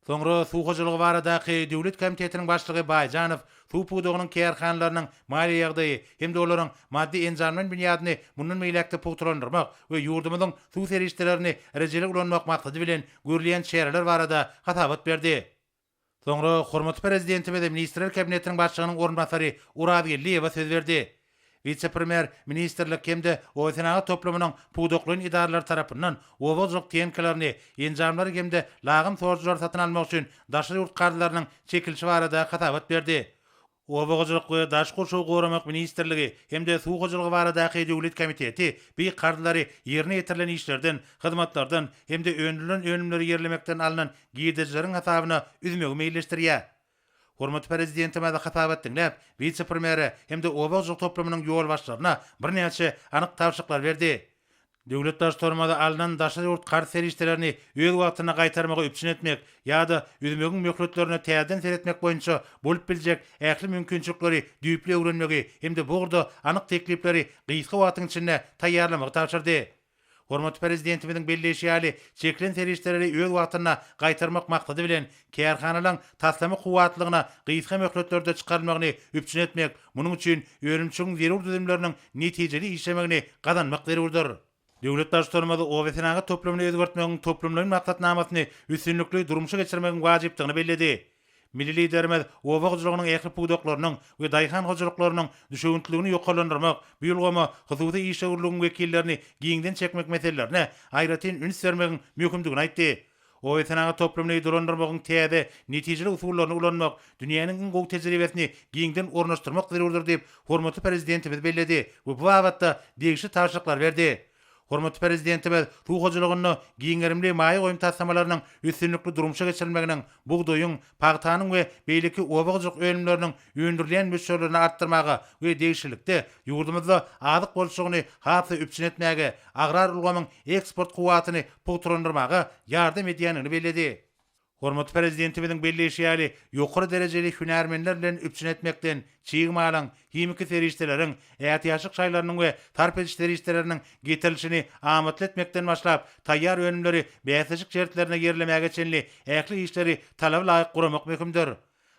Soňra Suw hojalygy baradaky döwlet komitetiniň başlygy Baýjanow suw pudagynyň kärhanalarynyň maliýe ýagdaýy hem-de olaryň maddy-enjamlaýyn binýadyny mundan beýläk-de pugtalandyrmak we ýurdumyzyň suw serişdelerini rejeli ulanmak maksady bilen görülýän çäreler barada hasabat berdi. Soňra hormatly Prezidentimiz Ministrler Kabinetiniň Başlygynyň orunbasary Oraz Geldiýewe söz berdi. Wise-premýer ministrlik hem-de obasenagat toplumynyň pudaklaýyn edaralary tarapyndan oba hojalyk tehnikalaryny, enjamlary hem-de lagym sorujylary satyn almak üçin daşary ýurt karzlarynyň çekilişi barada hasabat berdi. Oba hojalyk we daş gurşawy goramak ministrligi hem-de Suw hojalygy baradaky döwlet komiteti bi karzlary ýerine ýetirilen işlerden, hyzmatlardan hem-de öndürilen önümleri ýerlemekden alnan girdejileriň hasabyna üzmegi meýilleşdirýär. Hormatly Prezidentimiz hasabat diňläp, wise-premýere hem-de oba hojalyk toplumynyň ýolbaşçylaryna birnäçe anyk tabşyryklar berdi. Döwlet daş tormoza alnan daşary ýurt karz serişdelerini öz wagtynda gaýtarmagy üpjün etmek ýa-da üzmegiň möhletlerine täzeden seretmek boýunça bolup biljek ähli mümkinçilikleri düýpli öwrenmegi hem-de bu ugurda anyk teklipleri gysga wagtyň içinde taýýarlamagy tabşyrdy. Hormatly Prezidentimiziň belleýşi ýaly, çekilen serişdeleri öz wagtynda gaýtarmak maksady bilen, Kärhanalaryň taslama kuwwatlygyna gysga möhletlerde çykarylmagyny üpjün etmek, munuň üçin önümçigiň zerur düzümleriniň netijeli işlemegini gazanmak zerurdyr. Döwlet Baştutanymyz obasenagat toplumyny özgertmegiň toplumlaýyn maksatnamasyny üstünlikli durmuşa geçirmegiň wajypdygyny belledi. Milli Liderimiz oba hojalygynyň ähli pudaklarynyň we daýhan hojalyklarynyň düşewüntliligini ýokarlandyrmak, bu ulgama hususy işewürligiň wekillerini giňden çekmek meselelerine aýratyn üns bermegiň möhümdigini aýtdy. Oýasenagat toplumyny dolandyrmagyň täze, netijeli usullaryny ulanmak, dünýäniň iň gowy tejribesini giňden ornaşdyrmak zerurdyr diýip, hormatly Prezidentimiz belledi we bu babatda degişli tabşyryklary berdi. Hormatly Prezidentimiz suw hojalygynda giň gerimli maýa goýum taslamalarynyň üstünlikli durmuşa geçirilmeginiň bugdaýyň, pagtanyň we beýleki oba-hojalyk önümleriniň öndürilýän möçberlerini artdyrmaga we degişlilikde, ýurdumyzda azyk bolçulygyny has-da üpjün etmäge, agrar ulgamyň eksport kuwwatyny pugtalandyrmaga ýardam edýändigini belledi. Hormatly Prezidentimiziň belleýşi ýaly, ýokary derejeli hünärmenler bilen üpjün etmekden, çig malyň, Himiki serişdeleriň, ätiýaçlyk şaýlarynyň we sarp ediş serişdeleriniň getirilişini amatly etmekden başlap, taýýar önümleri bäsleşik şertlerinde ýerlemäge çenli ähli işleri talaba laýyk guramak möhümdir.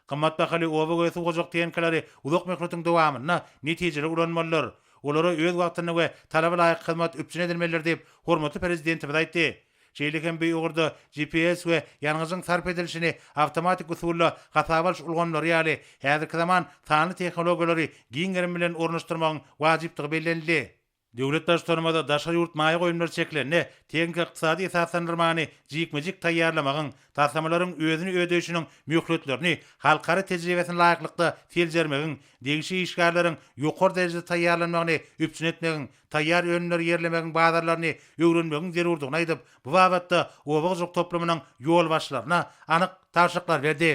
Gymmat bahaly oba we suw hojalyk tehnikaleri uzak möhletiň dowamynda netijeli ulanmalydyr. Olara öz wagtynda we talaba laýyk hyzmat üpjün edilmelidir diýip, hormatly Prezidentimiz aýtdy. Şeýle hem bu ugurda GPS we ýangyjyň sarp edilişini awtomatik usulda hasaba alyş ulgamlary ýaly häzirki zaman sanly tehnologiýalary giň gerim bilen ornaşdyrmagyň wajypdygy bellenildi. Döwlet Baştutanymyza daşary ýurt maýa goýumlary çekilende tehniki-ykdysady esaslandyrmany jikme-jik taýýarlamagyň, taslamalaryň özüni ödeýşiniň möhletlerini halkara tejribesine laýyklykda seljermegiň, degişli işgärleriň ýokary derejede taýýarlanmagyny üpjün etmegiň, taýýar önümleri ýerlemegiň bazarlaryny öwrenmegiň zerurdygyny aýdyp, bu babatda oba hojalyk toplumynyň ýolbaşçylaryna anyk tabşyryklar berdi.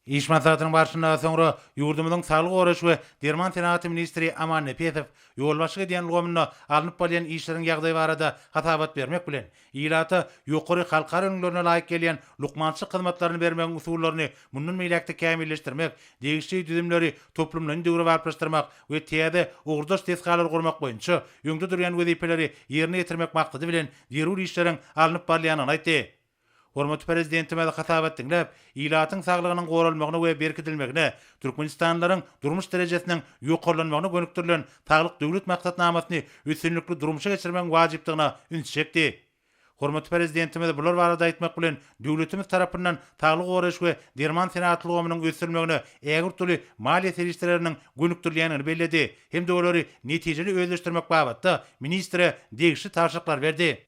Iş maslahatynyň barşynda soňra ýurdumyzyň saglygy goraýyş we derman senagaty ministri Aman Nepesow ýolbaşçylyk edýän ulgamynda alnyp barylýan işleriň ýagdaýy barada hasabat bermek bilen, Ilata ýokary halkara ülňülerine laýyk gelýän lukmançylyk hyzmatlaryny bermegiň usullaryny mundan beýläk-de kämilleşdirmek, degişli düzümleri toplumlaýyn döwrebaplaşdyrmak we täze, ugurdaş desgalary gurmak boýunça öňde durýan wezipeleri ýerine ýetirmek maksady bilen zerur işleriň alnyp barylýandygyny aýtdy. Hormatly Prezidentimiz hasabat diňläp, ilatyň saglygynyň goralmagyna we berkidilmegine, türkmenistanlylaryň durmuş derejesiniň ýokarlanmagyna gönükdirilen Saglyk Döwlet maksatnamasyny üstünlikli durmuşa geçirmegiň wajypdygyna üns çekdi. Hormatly Prezidentimiz bular barada aýtmak bilen, döwletimiz tarapyndan saglygy goraýyş we derman senagat ulgamynyň ösdürilmegine ägirt uly maliýe serişdeleriniň gönükdirilýändigini belledi hem-de olary netijeli özleşdirmek babatda ministre degişli tabşyryklary berdi.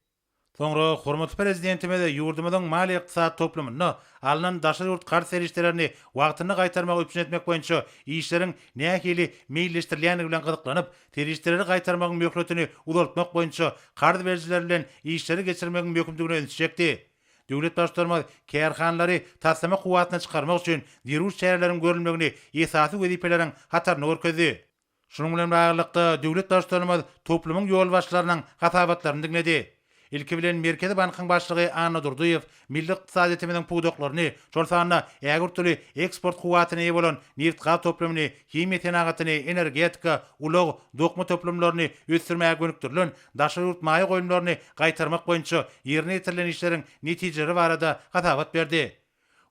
Soňra hormatly Prezidentimiz ýurdumyzyň maliýe-ykdysady toplumynda alnan daşary ýurt karz serişdelerini wagtynda gaýtarmagy üpjün etmek boýunça işleriň nähili meýilleşdirilýändigi bilen gyzyklanyp, serişdeleri gaýtarmagyň möhletini uzaltmak boýunça karz berijiler bilen işleri geçirmegiň möhümdigine ünsi çekdi. Döwlet Baştutanymyz kärhanalary taslama kuwwatyna çykarmak üçin zerur çäreleriň görülmegini esasy wezipeleriň hatarynda görkezdi. Şunuň bilen baglylykda, döwlet Baştutanymyz toplumyň ýolbaşçylarynyň hasabatlaryny diňledi. Ilki bilen, Merkezi bankyň başlygy Anna Durdyýew milli ykdysadyýetimiziň pudaklaryny, şol sanda ägirt uly eksport kuwwatyna eýe bolan nebit-gaz toplumyny, himiýa senagatyny, energetika, ulag, dokma toplumlaryny ösdürmäge gönükdirilen daşary ýurt maýa goýumlaryny gaýtarmak boýunça ýerine ýetirilen işleriň netijeleri barada hasabat berdi.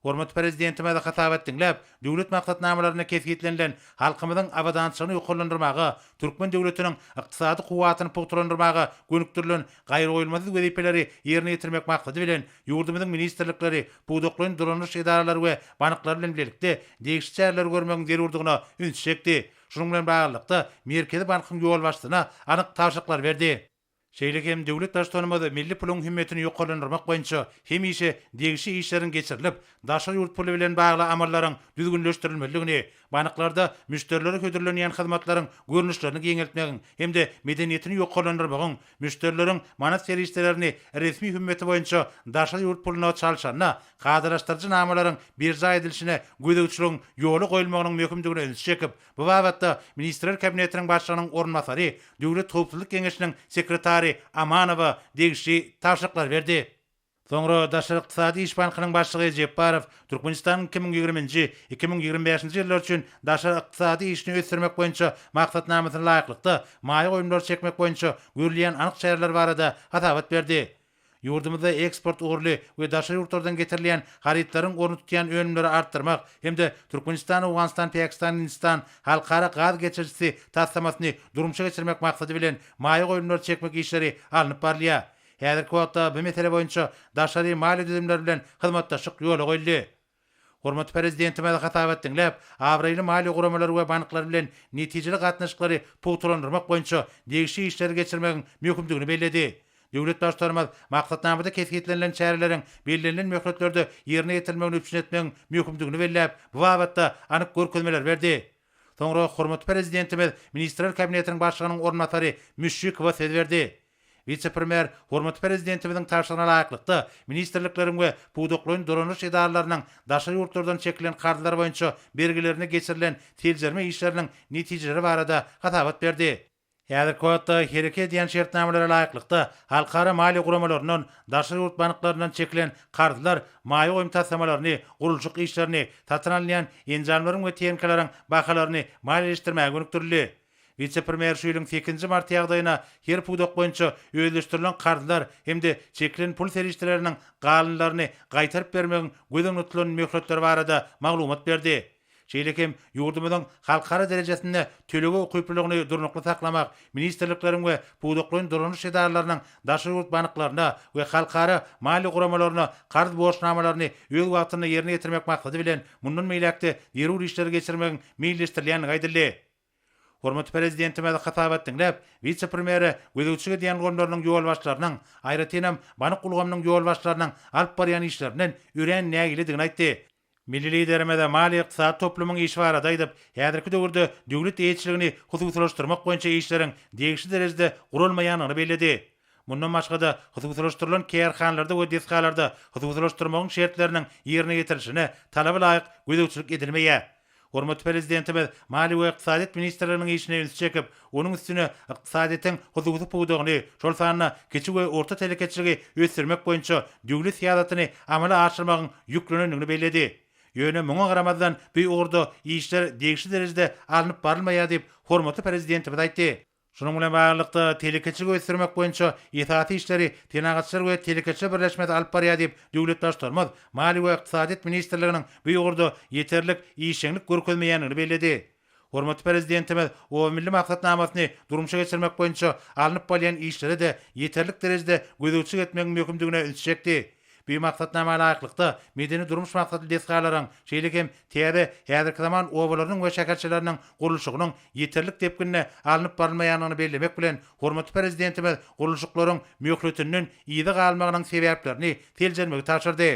Hormatly Prezidentimiz hasabat diňläp, döwlet maksatnamalarynda kesgitlenilen halkymyzyň abadançylygyny ýokarlandyrmaga, türkmen döwletiniň ykdysady kuwwatyny pugtalandyrmaga gönükdirilen gaýragoýulmasyz wezipeleri ýerine ýetirmek maksady bilen, ýurdumyzyň ministrlikleri, pudaklaýyn dolandyryş edaralary we banklary bilen bilelikde degişli çäreleri görmegiň zerurdygyna ünsi çekdi. Şunuň bilen baglylykda, Merkezi bankyň ýolbaşçysyna anyk tabşyryklar berdi. Şeýle hem Döwlet Baştutanymyz milli puluň hümmetini ýokarlandyrmak boýunça hemişe degişli işleriň geçirilip, daşary ýurt puly bilen bagly amallaryň düzgünleşdirilmelidigini, banklarda müşderilere hödürlenýän hyzmatlaryň görnüşlerini giňeltmegiň hem-de medeniýetini ýokarlandyrmagyň, müşderileriň manat serişdelerini resmi hümmeti boýunça daşary ýurt puluna çalşanda kadalaşdyryjy namalaryň berjaý edilişine gözegçiligiň ýola goýulmagynyň möhümdigine ünsi çekip, Bu babatda Ministrler Kabinetiniň Başlygynyň orunbasary Döwlet howpsuzlyk geňeşiniň sekretary Amanowa degişli tabşyryklary berdi. Soňra Daşary ykdysady iş bankynyň başlygy Jepbarow Türkmenistanyň iki müň ýigrimi nji, iki müň ýigrimi bäşinji ýyllar üçin daşary ykdysady işini ösdürmek boýunça maksatnamasyna laýyklykda maýa goýumlary çekmek boýunça görülýän anyk çäreler barada hasabat berdi. Ýurdumyzda eksport ugurly we daşary ýurtlardan getirilýän harytlaryň orny tutýan önümleri artdyrmak hem-de Türkmenistan-Owganystan-Peakstan-Hindistan halkara gaz geçirijisi taslamasyny durmuşa geçirmek maksady bilen maýa goýumlary çekmek işleri alnyp barylýar. Häzirki wagtda bu mesele boýunça daşary maliýe düzümleri bilen hyzmatdaşlyk ýola goýuldy. Hormatly Prezidentimize hasabat diňläp, abraýly maliýe guramalary we banklary bilen netijeli gatnaşyklary pugtalandyrmak boýunça degişli işleri geçirmegiň möhümdigini belledi. Döwlet Baştutanymyz maksatnamada kesgitlenilen çäreleriň bellenilen möhletlerde ýerine ýetirilmegini üpjün etmegiň möhümdigini belläp, bu babatda anyk görkezmeler berdi. Soňra hormatly Prezidentimiz Ministrler Kabinetiniň Başlygynyň orunbasary Müşşikowa söz berdi. Wise-premýer hormatly Prezidentimiziň tabşyrygyna laýyklykda, ministrlikleriň we pudaklaýyn dolanyş edaralarynyň daşary ýurtlardan çekilen karzlar boýunça bergilerine geçirilen seljerme işleriniň netijeleri barada hasabat berdi. Häzirki wagtda hereket edýän şertnamalara laýyklykda, halkara maliýe guramalaryndan, daşary ýurt banklaryndan çekilen karzlar maýa goýum taslamalaryny, gurluşyk işlerini, satyn alynýan enjamlaryň we tehnikalaryň bahalaryny maliýeleşdirmäge gönükdirildi. Wise-premýer şu ýylyň sekizinji marty ýagdaýyna her pudak boýunça özleşdirilen karzlar hem-de çekilen pul serişdeleriniň galynlaryny gaýtaryp bermegiň göz öňünde tutulan möhletleri barada maglumat berdi. Şeýle hem ýurdumyzyň halkara derejesinde tölege ukyplylygyny durnukly saklamak, ministrlikleriň we pudaklaýyn dolanyş edaralarynyň daşary ýurt banklaryna we halkara maliýe guramalaryna karz borçnamalaryny öz wagtynda ýerine ýetirmek maksady bilen mundan beýläk-de zerur işleri geçirmegiň meýilleşdirilýändigi aýdyldy. Hormatly Prezidentimiz hasabat diňläp, wise-premýere gözegçilik edýän ulgamlarynyň ýolbaşçylarynyň, aýratynam, bank ulgamynyň ýolbaşçylarynyň alyp barýan işlerinden örän nägiledigini aýtdy. Milli Liderimiz maliýe-ykdysady toplumyň işi barada aýdyp, häzirki döwürde döwlet eýeçiligini hususylaşdyrmak boýunça işleriň degişli derejede guralmaýandygyny belledi. Mundan başga-da, hususylaşdyrylan kärhanalarda we desgalarda hususylaşdyrmagyň şertleriniň ýerine ýetirilişine talaba laýyk gözegçilik edilmeýär. Hormatly Prezidentimiz maliýe we ykdysadyýet ministrleriniň işine ünsi çekip, onuň üstüne ykdysadyýetiň hususy pudagyny, şol sanda kiçi we orta telekeçiligi ösdürmek boýunça düwli syýasatyny amala aşyrmagyň ýüklenendigini belledi. Ýöne muňa garamazdan, bu ugurda işler degişli derejede alnyp barylmaýar diýip, hormatly Prezidentimiz aýtdy. Şunuň bilen baglylykda, telekeçiligi ösdürmek boýunça esasy işleri Senagatçylar we telekeçiler birleşmesi alyp barýar diýip, döwlet Baştutanymyz Maliýe we ykdysadyýet ministrliginiň bu ugurda ýeterlik işjeňlik görkezmeýändigini belledi. Hormatly Prezidentimiz Oba milli maksatnamasyny durmuşa geçirmek boýunça alnyp barylýan işlere-de ýeterlik derejede gözegçilik etmegiň möhümdigine ünsi çekdi. Bu maksatnama laýyklykda, medeni-durmuş maksatly desgalaryň, şeýle hem täze, häzirki zaman obalarynyň we şäherçeleriniň gurluşygynyň ýeterlik depginde alnyp barylmaýandygyny bellemek bilen, hormatly Prezidentimiz gurluşyklaryň möhletinden yza galmagynyň sebäplerini seljermegi tabşyrdy.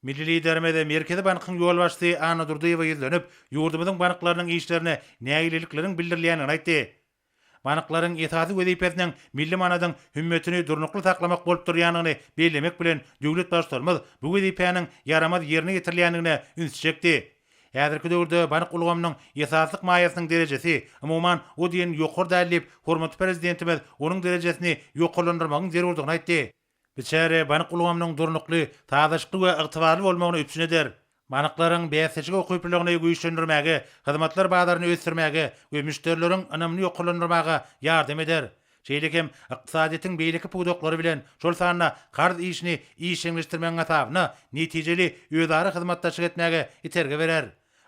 Milli Liderimiz Merkezi bankyň ýolbaşçysy Anna Durdyýewa ýüzlenip, ýurdumyzyň banklarynyň işlerine nägilelikleriň bildirilýändigini aýtdy. Banklaryň esasy wezipesiniň milli manadyň hümmetini durnukly saklamak bolup durýandygyny bellemek bilen, döwlet Baştutanymyz bu wezipäniň ýaramaz ýerine ýetirilýändigine üns çekdi. Häzirki döwürde bank ulgamynyň esaslyk maýasynyň derejesi, umuman, o diýen ýokary däl diýip, hormatly Prezidentimiz onuň derejesini ýokarlandyrmagyň zerurdygyny aýtdy. Biçäre bank ulgamynyň durnukly, sazlaşykly we ygtybarly bolmagyny üpjün eder. Banklaryň bäsdeşik ukyplylygyny güýçlendirmäge, hyzmatlar bazaryny ösdürmäge we müşderileriň ynamyny ýokarlandyrmaga ýardam eder. Şeýle hem ykdysadyýetiň beýleki pudaklary bilen, şol sanda karz işini işjeňleşdirmegiň hasabyna netijeli özara hyzmatdaşlyk etmäge itergi berer.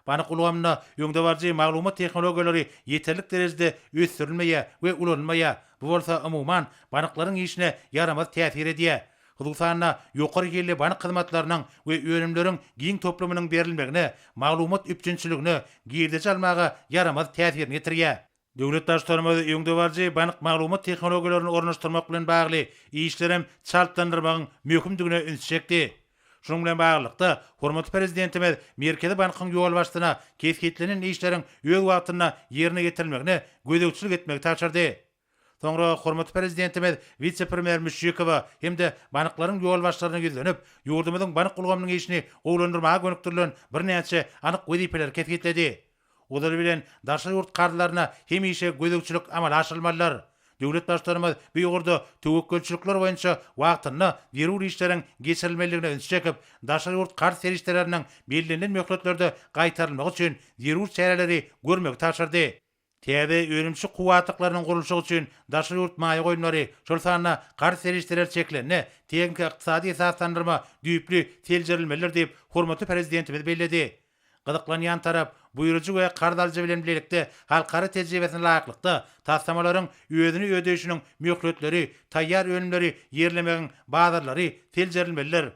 Bank ulgamynda öňdebaryjy maglumat tehnologiýalary ýeterlik derejede ösdürilmeýär we ulanylmaýar, bu bolsa, umuman, banklaryň işine ýaramaz täsir edýär. Hususan-da, ýokary hilli bank hyzmatlarynyň we önümleriň giň toplumynyň berilmegine, maglumat üpjünçiligine, girdeji almaga ýaramaz täsirini ýetirýär. Döwlet Baştutanymyz öňdebaryjy bank maglumat tehnologiýalaryny ornaşdyrmak bilen bagly işleri hem çaltlandyrmagyň möhümdigine ünsi çekdi. Şunuň bilen baglylykda, hormatly Prezidentimiz Merkezi bankyň ýolbaşçysyna kesgitlenen işleriň öz wagtynda ýerine ýetirilmegine gözegçilik etmegi tabşyrdy. Soňra hormatly Prezidentimiz wise-premýer Müşşikowa hem-de banklaryň ýolbaşçylaryna ýüzlenip, ýurdumyzyň bank ulgamynyň işini gowulandyrmaga gönükdirilen birnäçe anyk wezipeleri kesgitledi. Ozaly bilen daşary ýurt karzlaryna hemişe gözegçilik amala aşyrylmalydyr. Döwlet Baştutanymyz bu ugurda töwekgelçilikler boýunça wagtynda zerur işleriň geçirilmelidigine ünsi çekip, daşary ýurt karz serişdeleriniň bellenilen möhletlerde gaýtarylmagy üçin zerur çäreleri görmegi tabşyrdy. Täze önümçi kuwwatlyklarynyň gurluşygy üçin daşary ýurt maýa goýumlary, şol sanda karz serişdeleri çekilende, tehniki-ykdysady esaslandyrma düýpli seljerilmelidir diýip, hormatly Prezidentimiz belledi. Gyzyklanýan tarap, buýrujy we karz alyjy bilen bilelikde halkara tejribesine laýyklykda, taslamalaryň özüni ödeýşiniň möhletleri, taýýar önümleri ýerlemegiň bazarlary seljerilmelidir.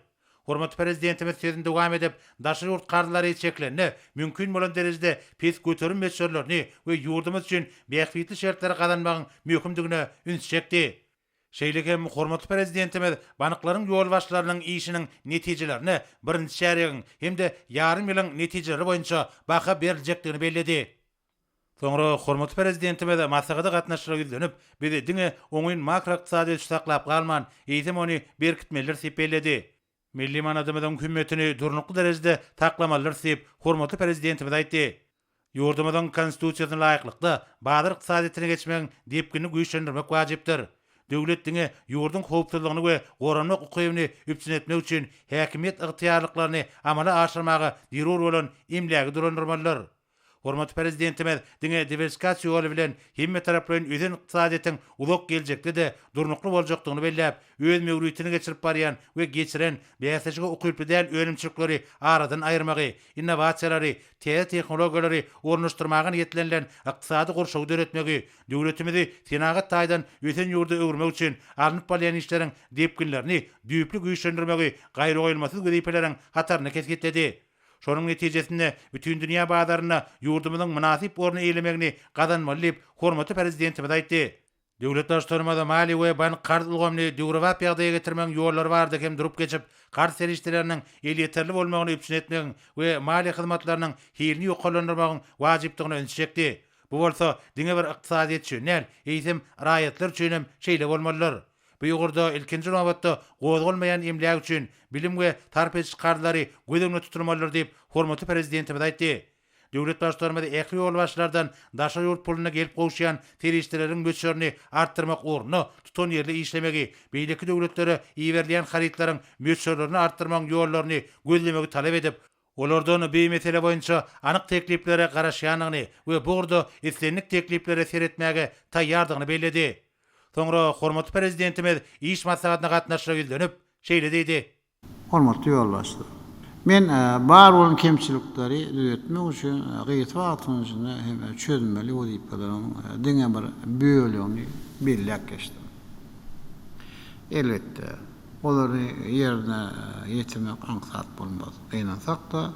Hormatly Prezidentimiz sözüni dowam edip, daşary ýurt karzlary çekilende, mümkin bolan derejede pes göterim möçberlerini we ýurdumyz üçin bähbitli şertleri gazanmagyň möhümdigine üns çekdi. Şeýle hem hormatly Prezidentimiz banklaryň ýolbaşçylarynyň işiniň netijelerine birinji çärýegiň hem-de ýarym ýylyň netijeleri boýunça baha beriljekdigini belledi. Soňra hormatly Prezidentimiz maslahata gatnaşyjylara ýüzlenip, Biz diňe oňyn makroykdysady ösüşi saklap galman, eýsem ony berkitmelidiris diýip belledi. Milli manadymyzyň hümmetini durnukly derejede saklamalydyrys diýip, hormatly Prezidentimiz aýtdy. Ýurdumyzyň Konstitusiýasyna laýyklykda, bazar ykdysadyýetine geçmegiň depginini güýçlendirmek wajypdyr. Döwlet diňe ýurduň howpsuzlygyny we goranmak ukybyny üpjün etmek üçin häkimiýet ygtyýarlyklaryny amala aşyrmaga zerur bolan emlägi dolandyrmalydyr. Hormatly Prezidentimiz diňe diwersifikasiýa ýoly bilen hemmetaraplaýyn ösen ykdysadyýetiň uzak geljekde-de durnukly boljakdygyny belläp, öz möwritini geçirip barýan we geçiren bäsleşige ukyply däl önümçilikleri aradan aýyrmagy, innowasiýalary, täze tehnologiýalary ornaşdyrmaga niýetlenilen ykdysady gurşawy döretmegi, döwletimizi senagat taýdan ösen ýurda öwürmek üçin alnyp barylýan işleriň depginlerini düýpli güýçlendirmegi gaýragoýulmasyz wezipeleriň hatarynda kesgitledi. Şonuň netijesinde bütindünýä bazarynda ýurdumyzyň mynasyp orny eýlemegini gazanmaly diýip, hormatly Prezidentimiz aýtdy. Döwlet Baştutanymyz maliýe we bank-karz ulgamyny döwrebap ýagdaýa getirmegiň ýollary barada hem durup geçip, karz serişdeleriniň elýeterli bolmagyny üpjün etmegiň we maliýe hyzmatlarynyň hilini ýokarlandyrmagyň wajypdygyna ünsi çekdi. Bu bolsa diňe bir ykdysadyýet üçin däl, eýsem, raýatlar üçin hem şeýle bolmalydyr. Bu ugurda, ilkinji nobatda, gozgalmaýan emläk üçin bilim we sarp ediş karzdary göz öňünde tutulmalydyr diýip, hormatly Prezidentimiz aýtdy. Döwlet Baştutanymyz ähli ýolbaşçylardan daşary ýurt puluna gelip gowuşýan serişdeleriň möçberini artdyrmak ugrunda tutanýerli işlemegi, beýleki döwletlere iberilýän harytlaryň möçberlerini artdyrmagyň ýollaryny gözlemegi talap edip, olardan bu mesele boýunça anyk tekliplere garaşýandygyny we bu ugurda islendik tekliplere seretmäge taýýardygyny belledi. Soňra hormatly Prezidentimiz iş maslahatyna gatnaşyja ýüzlenip, şeýle diýdi. Hormatly ýoldaşlar! Men bar bolan kemçilikleri düzetmek üçin gysga wagtyň içinde hem çözmeli wezipeleriň diňe bir bölegini belläp geçdim. Elbetde. Olary ýerine ýetirmek aňsat bolmaz. Gynansak-da,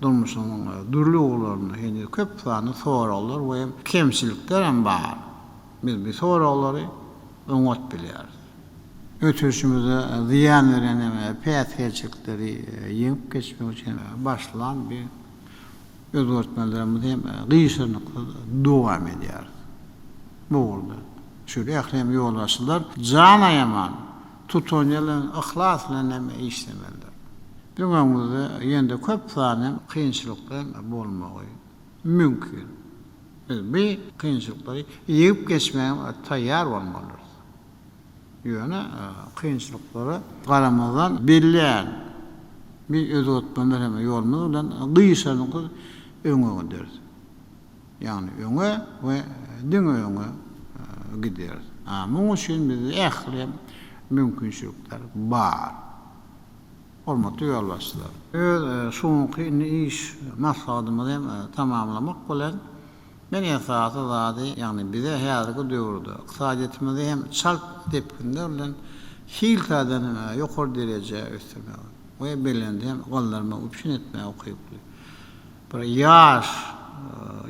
durmuşyň dürli ugurlarynda heniz köp sanly soraglar we kemçilikler hem bar. Biz bu soraglary oňat bilýäris. Ötüşimize zyýan berýän hem päsgelçilikleri ýeňip geçmek üçin başlan bir Özgertmelerimizi hem gyşarnyksyz dowam edýäris. Bu ugurda şeýle ähli hem ýolbaşçylar jan aýaman, tutanýer bilen, yhlas bilen hem işlemelidir. Biziň öňümizde ýene-de köp sany hem kynçylyklar bolmagy mümkin. Biz bu kynçylyklary ýeňip geçmäge taýýar bolmalydyrys. Ýöne kynçylyklara garamazdan belleýän bir özgertme meheme ýolumyz bilen gyşadyňkyz öňe gideris. Ýagny öňe we diňe öňe gideris. A muň üçin bizde ähli hem mümkinçilikler bar. Hormatly ýolbaşçylar! Öz şu günki indi iş maslahatymyzy hem tamamlamak bilen, Men esasy zady, ýagny bize häzirki döwürde ykdysadyýetimizi hem çalt depginler bilen hil taýdan ýokary derejä ösdürmegi we belende hem galdyrmagy üpjün etmäge ukyply bir ýaş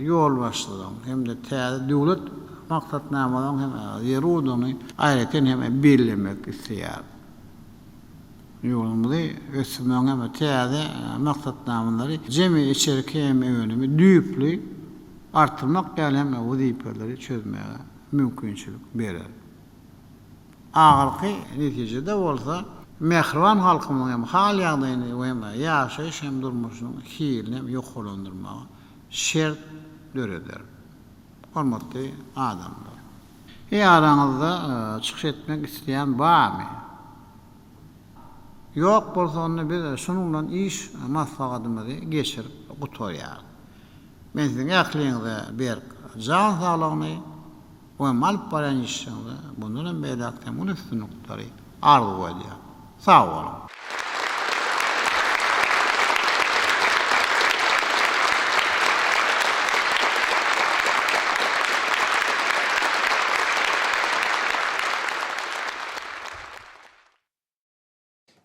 ýolbaşçylaryň hem-de täze döwlet maksatnamalaryň hem zerurdygyny aýratyn hem bellemek isleýärin. Ýurdumyzy ösdürmegiň hem-de täze maksatnamalary jemi içerki hem önümi düýpli artdyrmak ýaly hem wezipeleri çözmäge mümkinçilik berer. Ahyrky netijede bolsa, mähriban halkymyzyň hem hal-ýagdaýyny we hem ýaşaýyş hem durmuşynyň hilini hem ýokarlandyrmaga şert döreder. Hormatly adamlar! Eý araňyzda çykyş etmek isleýän barmy? Ýok bolsa onda biz şunuň bilen iş maslahatymyzy geçirip gutarýarys. Men siziň ähliňize berk jan saglygyny we alyp barýan işiňizde mundan hem beýläk hem uly üstünlikleri arzuw edýän. Sag boluň!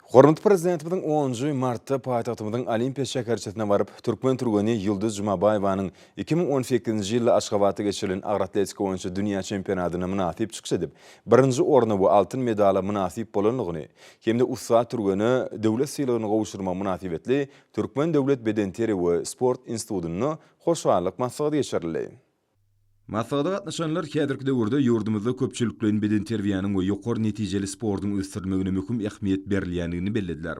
Hormatly Prezidentimiziň onunjy martda paýtagtymyzyň Olimpiýa şäherçesine baryp, türkmen türgeni Ýulduz Jumabaýewanyň iki müň on sekizinji ýylda Aşgabatda geçirilen agroatletika boýunça dünýä çempionatyna mynasyp çykyş edip, birinji orna we altyn medala mynasyp bolandygyny hem-de ussat türgene döwlet sylagyny gowşurmagy mynasybetli Türkmen döwlet bedenterbiýe we sport institutynda hoşallyk maslahaty geçirildi. Maslahata gatnaşanlar häzirki döwürde ýurdumyzda köpçülikleýin bedenterbiýäniň we ýokary netijeli sportuň ösdürilmegine möhüm ähmiýet berilýändigini bellediler.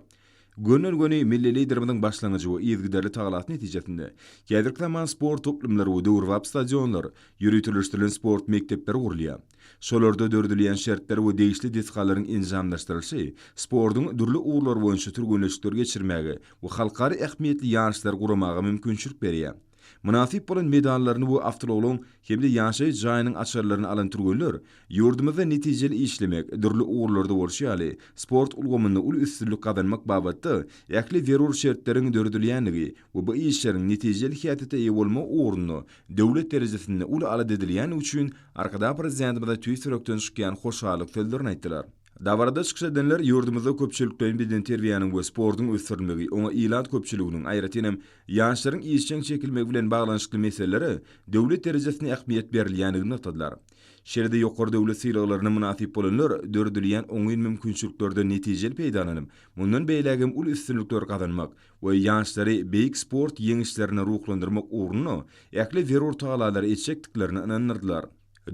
Gönden-göni milli Liderimiziň başlangyjy we yzygiderli tagalasy netijesinde, häzirki zaman sport toplumlary we döwrebap stadionlar, ýöriteleşdirilen sport mekdepleri gurulýar. Şolarda döredilýän şertler we degişli desgalaryň enjamlaşdyrylyşy sportuň dürli ugurlary boýunça türgenleşikleri geçirmäge we halkara ähmiýetli ýaryşlary guramaga mümkinçilik berýär. Mynasyp bolan medallaryny we awtoulagyň hem-de ýaşaýyş jaýynyň açarlaryny alan türgenler ýurdumyzda netijeli işlemek, dürli ugurlarda bolşy ýaly, sport ulgamynda uly üstünlik gazanmak babatda ähli zerur şertleriň döredilýändigi we bu işleriň netijeli häsiýete eýe bolmagy ugrunda döwlet derejesinde uly alada edilýändigi üçin Arkadagprezidentimyza tüýs ýürekden çykýan hoşallyk sözlerini aýtdylar. Dabarada çykyş edenler ýurdumyzda köpçülikleýin bedenterbiýäniň we sportuň ösdürilmegi, oňa ilat köpçüliginiň, aýratyn hem, ýaşlaryň işjeň çekilmegi bilen baglanyşykly meselelere döwlet derejesinde ähmiýet berilýändigini nygtadylar. Şeýle-de ýokary döwlet sylaglaryna mynasyp bolanlar döredilýän oňyn mümkinçiliklerden netijeli peýdalanyp, mundan beýlägem uly üstünlikler gazanmak we ýaşlary beýik sport ýeňişlerine ruhlandyrmak ugrunda ähli zerur tagallalary etjekdiklerine ynandyrdylar.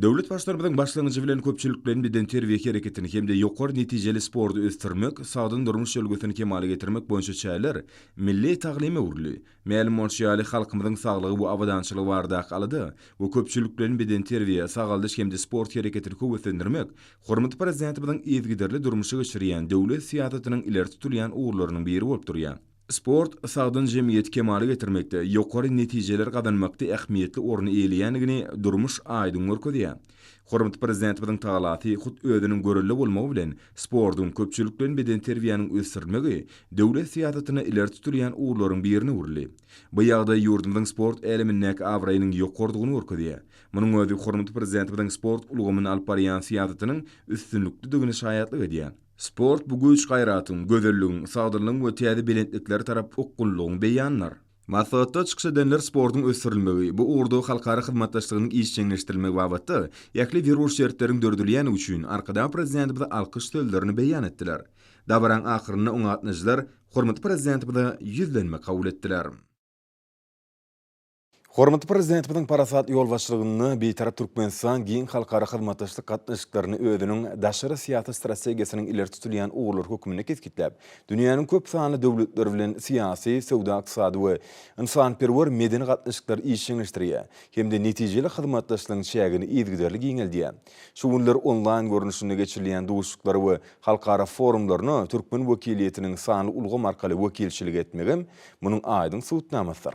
Döwlet Baştutanymyzyň başlangyjy bilen köpçülikleýin bedenterbiýe hereketini hem-de ýokary netijeli sporty ösdürmek, sagdyn durmuş ülňüsini kemala getirmek boýunça çäreler milli taglyma öwrüldi. Mälim bolşy ýaly, halkymyzyň saglygy we abadançylygy baradaky alada we köpçülikleýin bedenterbiýe, sagaldyş hem-de sport hereketini höweslendirmek hormatly Prezidentimiziň yzygiderli durmuşa geçirýän döwlet syýasatynyň ileri tutulýan ugurlarynyň biri bolup durýar. Sport sagdyn jemgyýeti kemala getirmekde, ýokary netijeler gazanmakda ähmiýetli orny eýeleýändigini durmuş aýdyň görkezýär. Hormatly Prezidentimiziň talasy hut özüniň görelde bolmagy bilen, sportuň, köpçülik bilen bedenterbiýäniň ösdürilmegi döwlet syýasatynda ileri tutulýan ugurlaryň birine öwrüldi. Bu ýagdaý ýurdumyzyň sport älemindäki abraýynyň ýokarydygyny görkezýär. Munuň özi hormatly Prezidentimiziň sport ulgamynda alyp barýan syýasatynyň üstünliklidigine şaýatlyk edýär. Sport bu güýç-gaýratyň, gözelligiň, sagdynlygyň we täze belentliklere tarap okgunlygyň beýanydyr. Maslahatda çykyş edenler sportuň ösdürilmegi, bu ugurda halkara hyzmatdaşlygynyň işjeňleşdirilmegi babatda ähli zerur şertleriň döredilýändigi üçin Arkadag Prezidentimize alkyş sözlerini beýan etdiler. Dabaranyň ahyrynda oňa gatnaşyjylar hormatly Prezidentimize ýüzlenme kabul etdiler. Hormatly Prezidentimiziň parasatly ýolbaşçylygynda Bitarap Türkmenistan giň halkara hyzmatdaşlyk gatnaşyklaryny özüniň daşary syýasat strategiýasynyň ileri tutulýan ugurlary hökmünde kesgitläp, dünýäniň köp sanly döwletleri bilen syýasy, söwda-ykdysady we ynsanperwer-medeni gatnaşyklary işjeňleşdirýär hem-de netijeli hyzmatdaşlygyň çägini yzygiderli giňeldýär. Şu günler onlaýn görnüşinde geçirilýän duşuşyklara we halkara forumlaryna türkmen wekiliýetiniň sanly ulgam arkaly wekilçilik etmegem munuň aýdyň subutnamasydyr.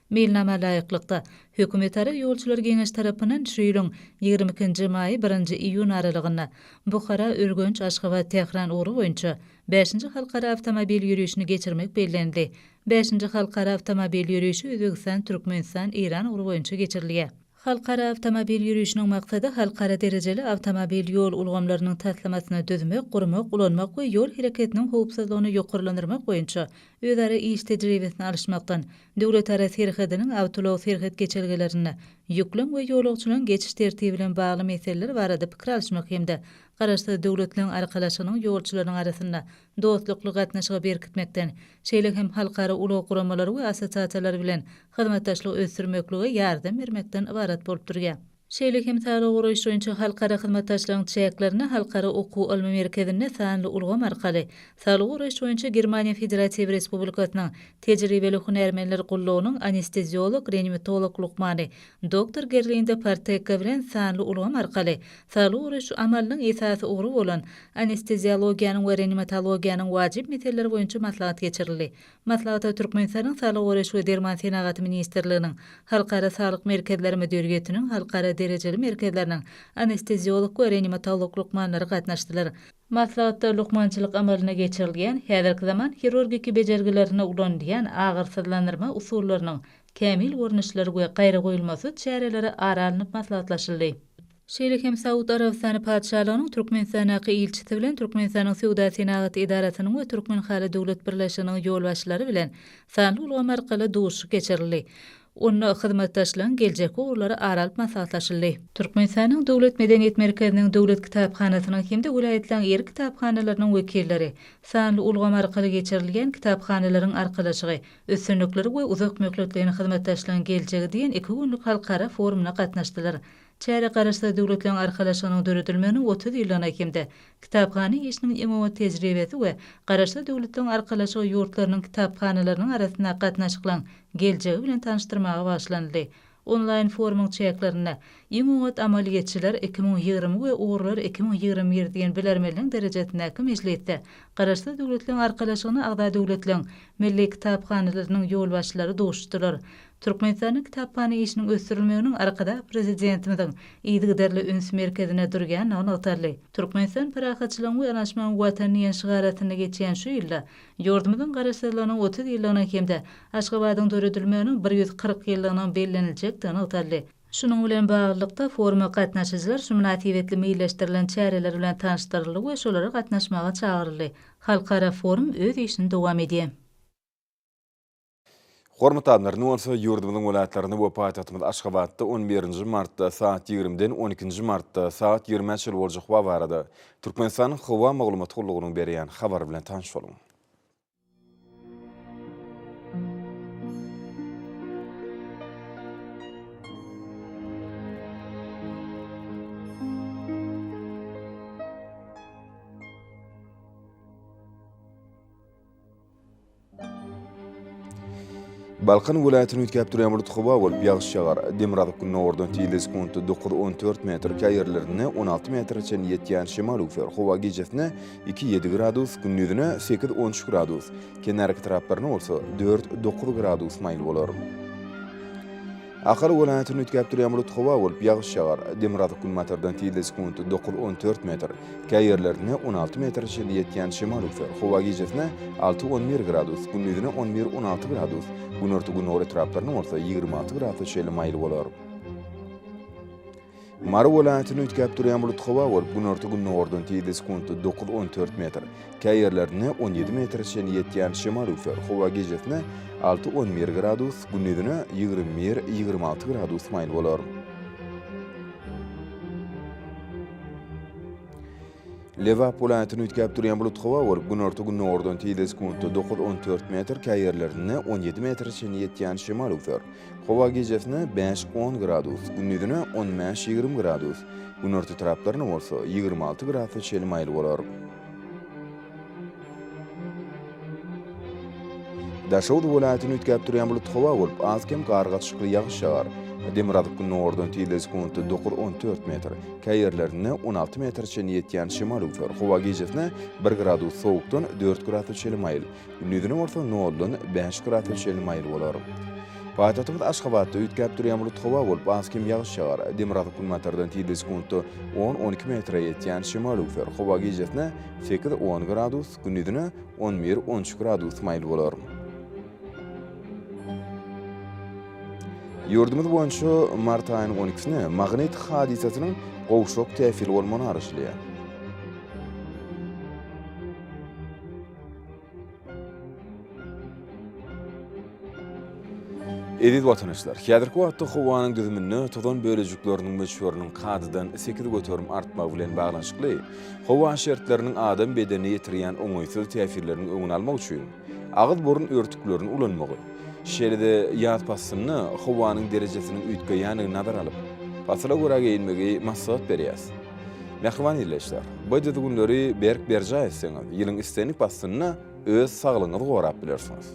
Meýilnama laýyklykda, Hökümetara ýolçular geňeşi tarapyndan şu ýylyň ýigrimi ikinji maýy, birinji iýun aralygynda Buhara, Ürgenç, Aşgabat, Tähran ugry boýunça bäşinji halkara awtomobil ýörişini geçirmek bellenildi. Bäşinji halkara awtomobil ýörişi Özbegistan, Türkmenistan, Eýran ugry boýunça geçirilýär. Halkara awtomobil ýörişiniň maksady halkara derejeli awtomobil ýol ulgamlarynyň taslamasyny düzmek, gurmak, ulanmak we ýol hereketiniň howpsuzlygyny ýokarlandyrmak boýunça özara iş tejribesini alyşmakdan, döwletara serhediniň awtoulag serhet geçelgelerinde ýüklüň we ýolagçylaryň geçiş tertibi bilen bagly meseleler barada pikir alyşmak hem-de Garaşsyz Döwletleriň Arkalaşygynyň ýolçularynyň arasynda dostlukly gatnaşygy berkitmekden, şeýle hem halkara ulag guramalary we assosiasiýalary bilen hyzmatdaşlygy ösdürmeklige ýardam bermekden ybarat bolup durýar. Şeýle hem saglygy goraýyş boýunça halkara hyzmatdaşlygyň çäklerinde Halkara okuw-ylmy merkezinde sanly ulgam arkaly Saglygy goraýyş boýunça Germaniýa Federatiw Respublikasynyň tejribeli hünärmenler gullugynyň anesteziolog-reanimatolog lukmany doktor Gerlinde Parteka bilen sanly ulgam arkaly Saglygy goraýyş amalynyň esasy ugry bolan anesteziologiýanyň we reanimatologiýanyň wajyp meseleleri boýunça maslahat geçirildi. Maslahata Türkmenistanyň Saglygy goraýyş we derman senagaty ministrliginiň, Halkara saglyk merkezleri müdiriýetiniň halkara derejeli merkezleriniň anesteziolog we reanimatolog lukmanlary gatnaşdylar. Maslahatda lukmançylyk amalyna geçirilýän häzirki zaman hirurgiki bejergilerinde ulanylýan agyrsyzlandyrma usullarynyň kämil görnüşleri we gaýragoýulmasyz çäreleri ara alnyp maslahatlaşyldy. Şeýle hem Saud Arabystany Patyşalygynyň Türkmenistandaky ilçisi bilen Türkmenistanyň Söwda-senagat edarasynyň we Türkmenhaly döwlet birleşiginiň ýolbaşçylary bilen sanly ulgam arkaly duşuşyk geçirildi. Onda hyzmatdaşlygyň geljekki ugurlary ara alyp maslahatlaşyldy. Türkmenistanyň Döwlet medeniýet merkeziniň Döwlet kitaphanasynyň hem-de welaýatlaryň ýerli kitaphanalarynyň wekilleri, sanly ulgam arkaly geçirilýän kitaphanalaryň arkalaşygy, üstünlikleri we uzak möhletleýin hyzmatdaşlygyň geljegi diýen iki günlük halkara forumyna gatnaşdylar. Çäre Garaşsyz Döwletleriň Arkalaşygynyň döredilmeginiň otuz ýyllygyna hem-de kitaphana işiniň iň oňat tejribesi we Garaşsyz Döwletleriň Arkalaşygy ýurtlarynyň kitaphanalarynyň arasyndaky gatnaşyklaryň geljegi bilen tanyşdyrmaga bagyşlanyldy. Onlaýn forumyň çäklerinde Iň oňat amaly geçijiler iki müň ýigrimi we Ugurlar iki müň ýigrimi bir diýen bilermenligiň derejesindäki mejlisde Garaşsyz Döwletleriň Arkalaşygyna agza döwletleriň Milli kitaphanalarynyň ýolbaşçylary duşdular. Türkmenistanda kitaphana işiniň ösdürilmeginiň Arkadag Prezidentimiziň yzygiderli üns merkezinde durýandygy nygtaldy. Türkmenistan parahatçylygyň we yanaşmagyň Watany diýen şygar astynda geçýän şu ýylda Ýurdumyzyň Garaşsyzlygynyň otuz ýyllygynyň hem-de Aşgabadyň döredilmeginiň bir ýüz kyrk ýyllygynyň belleniljekdigi nygtaldy. Şunuň bilen baglylykda, foruma gatnaşyjylar şu mynasybetli meýilleşdirilen çäreler bilen tanyşdyryldy we şolara gatnaşmaga çagyryldy. Halkara forum öz işini dowam edýär. Hormatly adamlar, indi bolsa ýurdumyzyň welaýatlaryny we paýtagtymyz Aşgabatda on birinji martda saat ýigrimiden on ikinji martda saat ýigrimä çenli boljak howa barada Türkmenistanyň Howa maglumat gullugynyň berýän habary bilen tanyş boluň. Balkan welaýatyny üýtgäp durýan bulut howa bolup, ýagyş ýagar. Demirgazyk gündogardan tizligi sekuntda dokuz-on dört metr, käý ýerlerinde on alty metre çenli ýetýän şemal üwser. Howa gijesine iki-ýedi gradus, gündizine sekiz-on üç gradus, kenarki taraplaryna bolsa dört-dokuz gradus maýyl bolar. Ahal welaýatyny üýtgäp durýan bulut howa bolup, ýagyş ýagar. Demirgazyk günbatardan tizligi sekundy dokuz-on dört metr, kä ýerlerinde on alty metre çenli ýetýän şemal üwser. Howa gijesine alty-on bir gradus, gündizine on bir-on alty gradus, günorta-gündogar etraplarynda bolsa ýigrimi alty gradsa çenli maýyl bolar. Mary welaýatyny üýtgäp durýan bulut howa bolup, günorta-gündogardan tizligi sekuntda dokuz-on dört metr, käý ýerlerinde on ýedi metre çenli ýetýän şemal üwser. Howa gijesine alty-on bir gradus, gündizine ýigrimi bir-ýigrimi alty gradus maýyl bolar. Lebap welaýatyny üýtgäp durýan bulut howa bolup, günorta-gündogardan tizligi sekuntda dokuz-on dört metr, käý ýerlerinde on ýedi metre çenli ýetýän şemal üwser. Howa gijesine bäş-on gradus, gündizine on bäş-ýigrimi gradus, günorta taraplaryna bolsa ýigrimi alty gradusa çenli maýyl bolar. Daşoguz welaýatyny üýtgäp durýan bulut howa bolup, az-kem gar gatyşykly ýagyş ýagar. Demirgazyk gündogardan tizligi sekuntda dokuz-on dört metr, käý ýerlerinde on alty metre çenli ýetýän şemal üwser. Howa gijesine bir gradus sowukdan dört gradusa çenli maýyl. Gündizine bolsa noldan bäş gradsa çenli maýyl bolar. Paýtagtymyz Aşgabatda üýtgäp durýan bulut howa bolup, az kem ýagyş ýagar. Demirgazyk günbatardan tizligi sekuntda on-on iki metre ýetýän şemal öwser. Howa gijesine sekiz-on gradus, gündizine on bir-on üç gradus maýyl bolar. Ýurdumyz boýunça mart aýynyň on ikisine magnit hadysasynyň gowşak täsiri bolmagy garaşylýar. Eziz watanyşlar, häzirki wagtda howanyň düzüminde tozan bölejikleriniň möçberiniň kadadan sekiz göterim artmagy bilen baglanyşykly, howa şertleriniň adam bedenine ýetirýän oňaýsyz täsirleriniň öňüni almak üçin agyz-burun örtüklerini ulanmagy, şeýle-de ýaz paslynda howanyň derejesiniň üýtgeýändigini nazara alyp, pasyla görä geýinmegi maslahat berýäris. Mähriban ildeşler! Bu düzgünleri berk berjaý etseňiz, ýylyň islendik paslynda öz saglygyňyzy gorap bilersiňiz.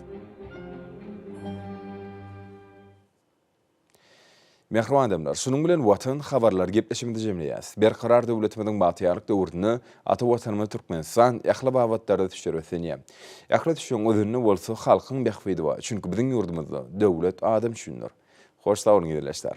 Mähriban adamlar! Şunuň bilen Watan habarlary gepleşigimizi jemleýäris. Berkarar döwletimiziň bagtyýarlyk döwründe ata Watanymyz Türkmenistan ähli babatlarda düşer ösenýär. Ähli düşeň özünde bolsa halkyň bähbidi bar. Çünki biziň ýurdumyzda döwlet adam üçindir. Hoş sag boluň ildeşler!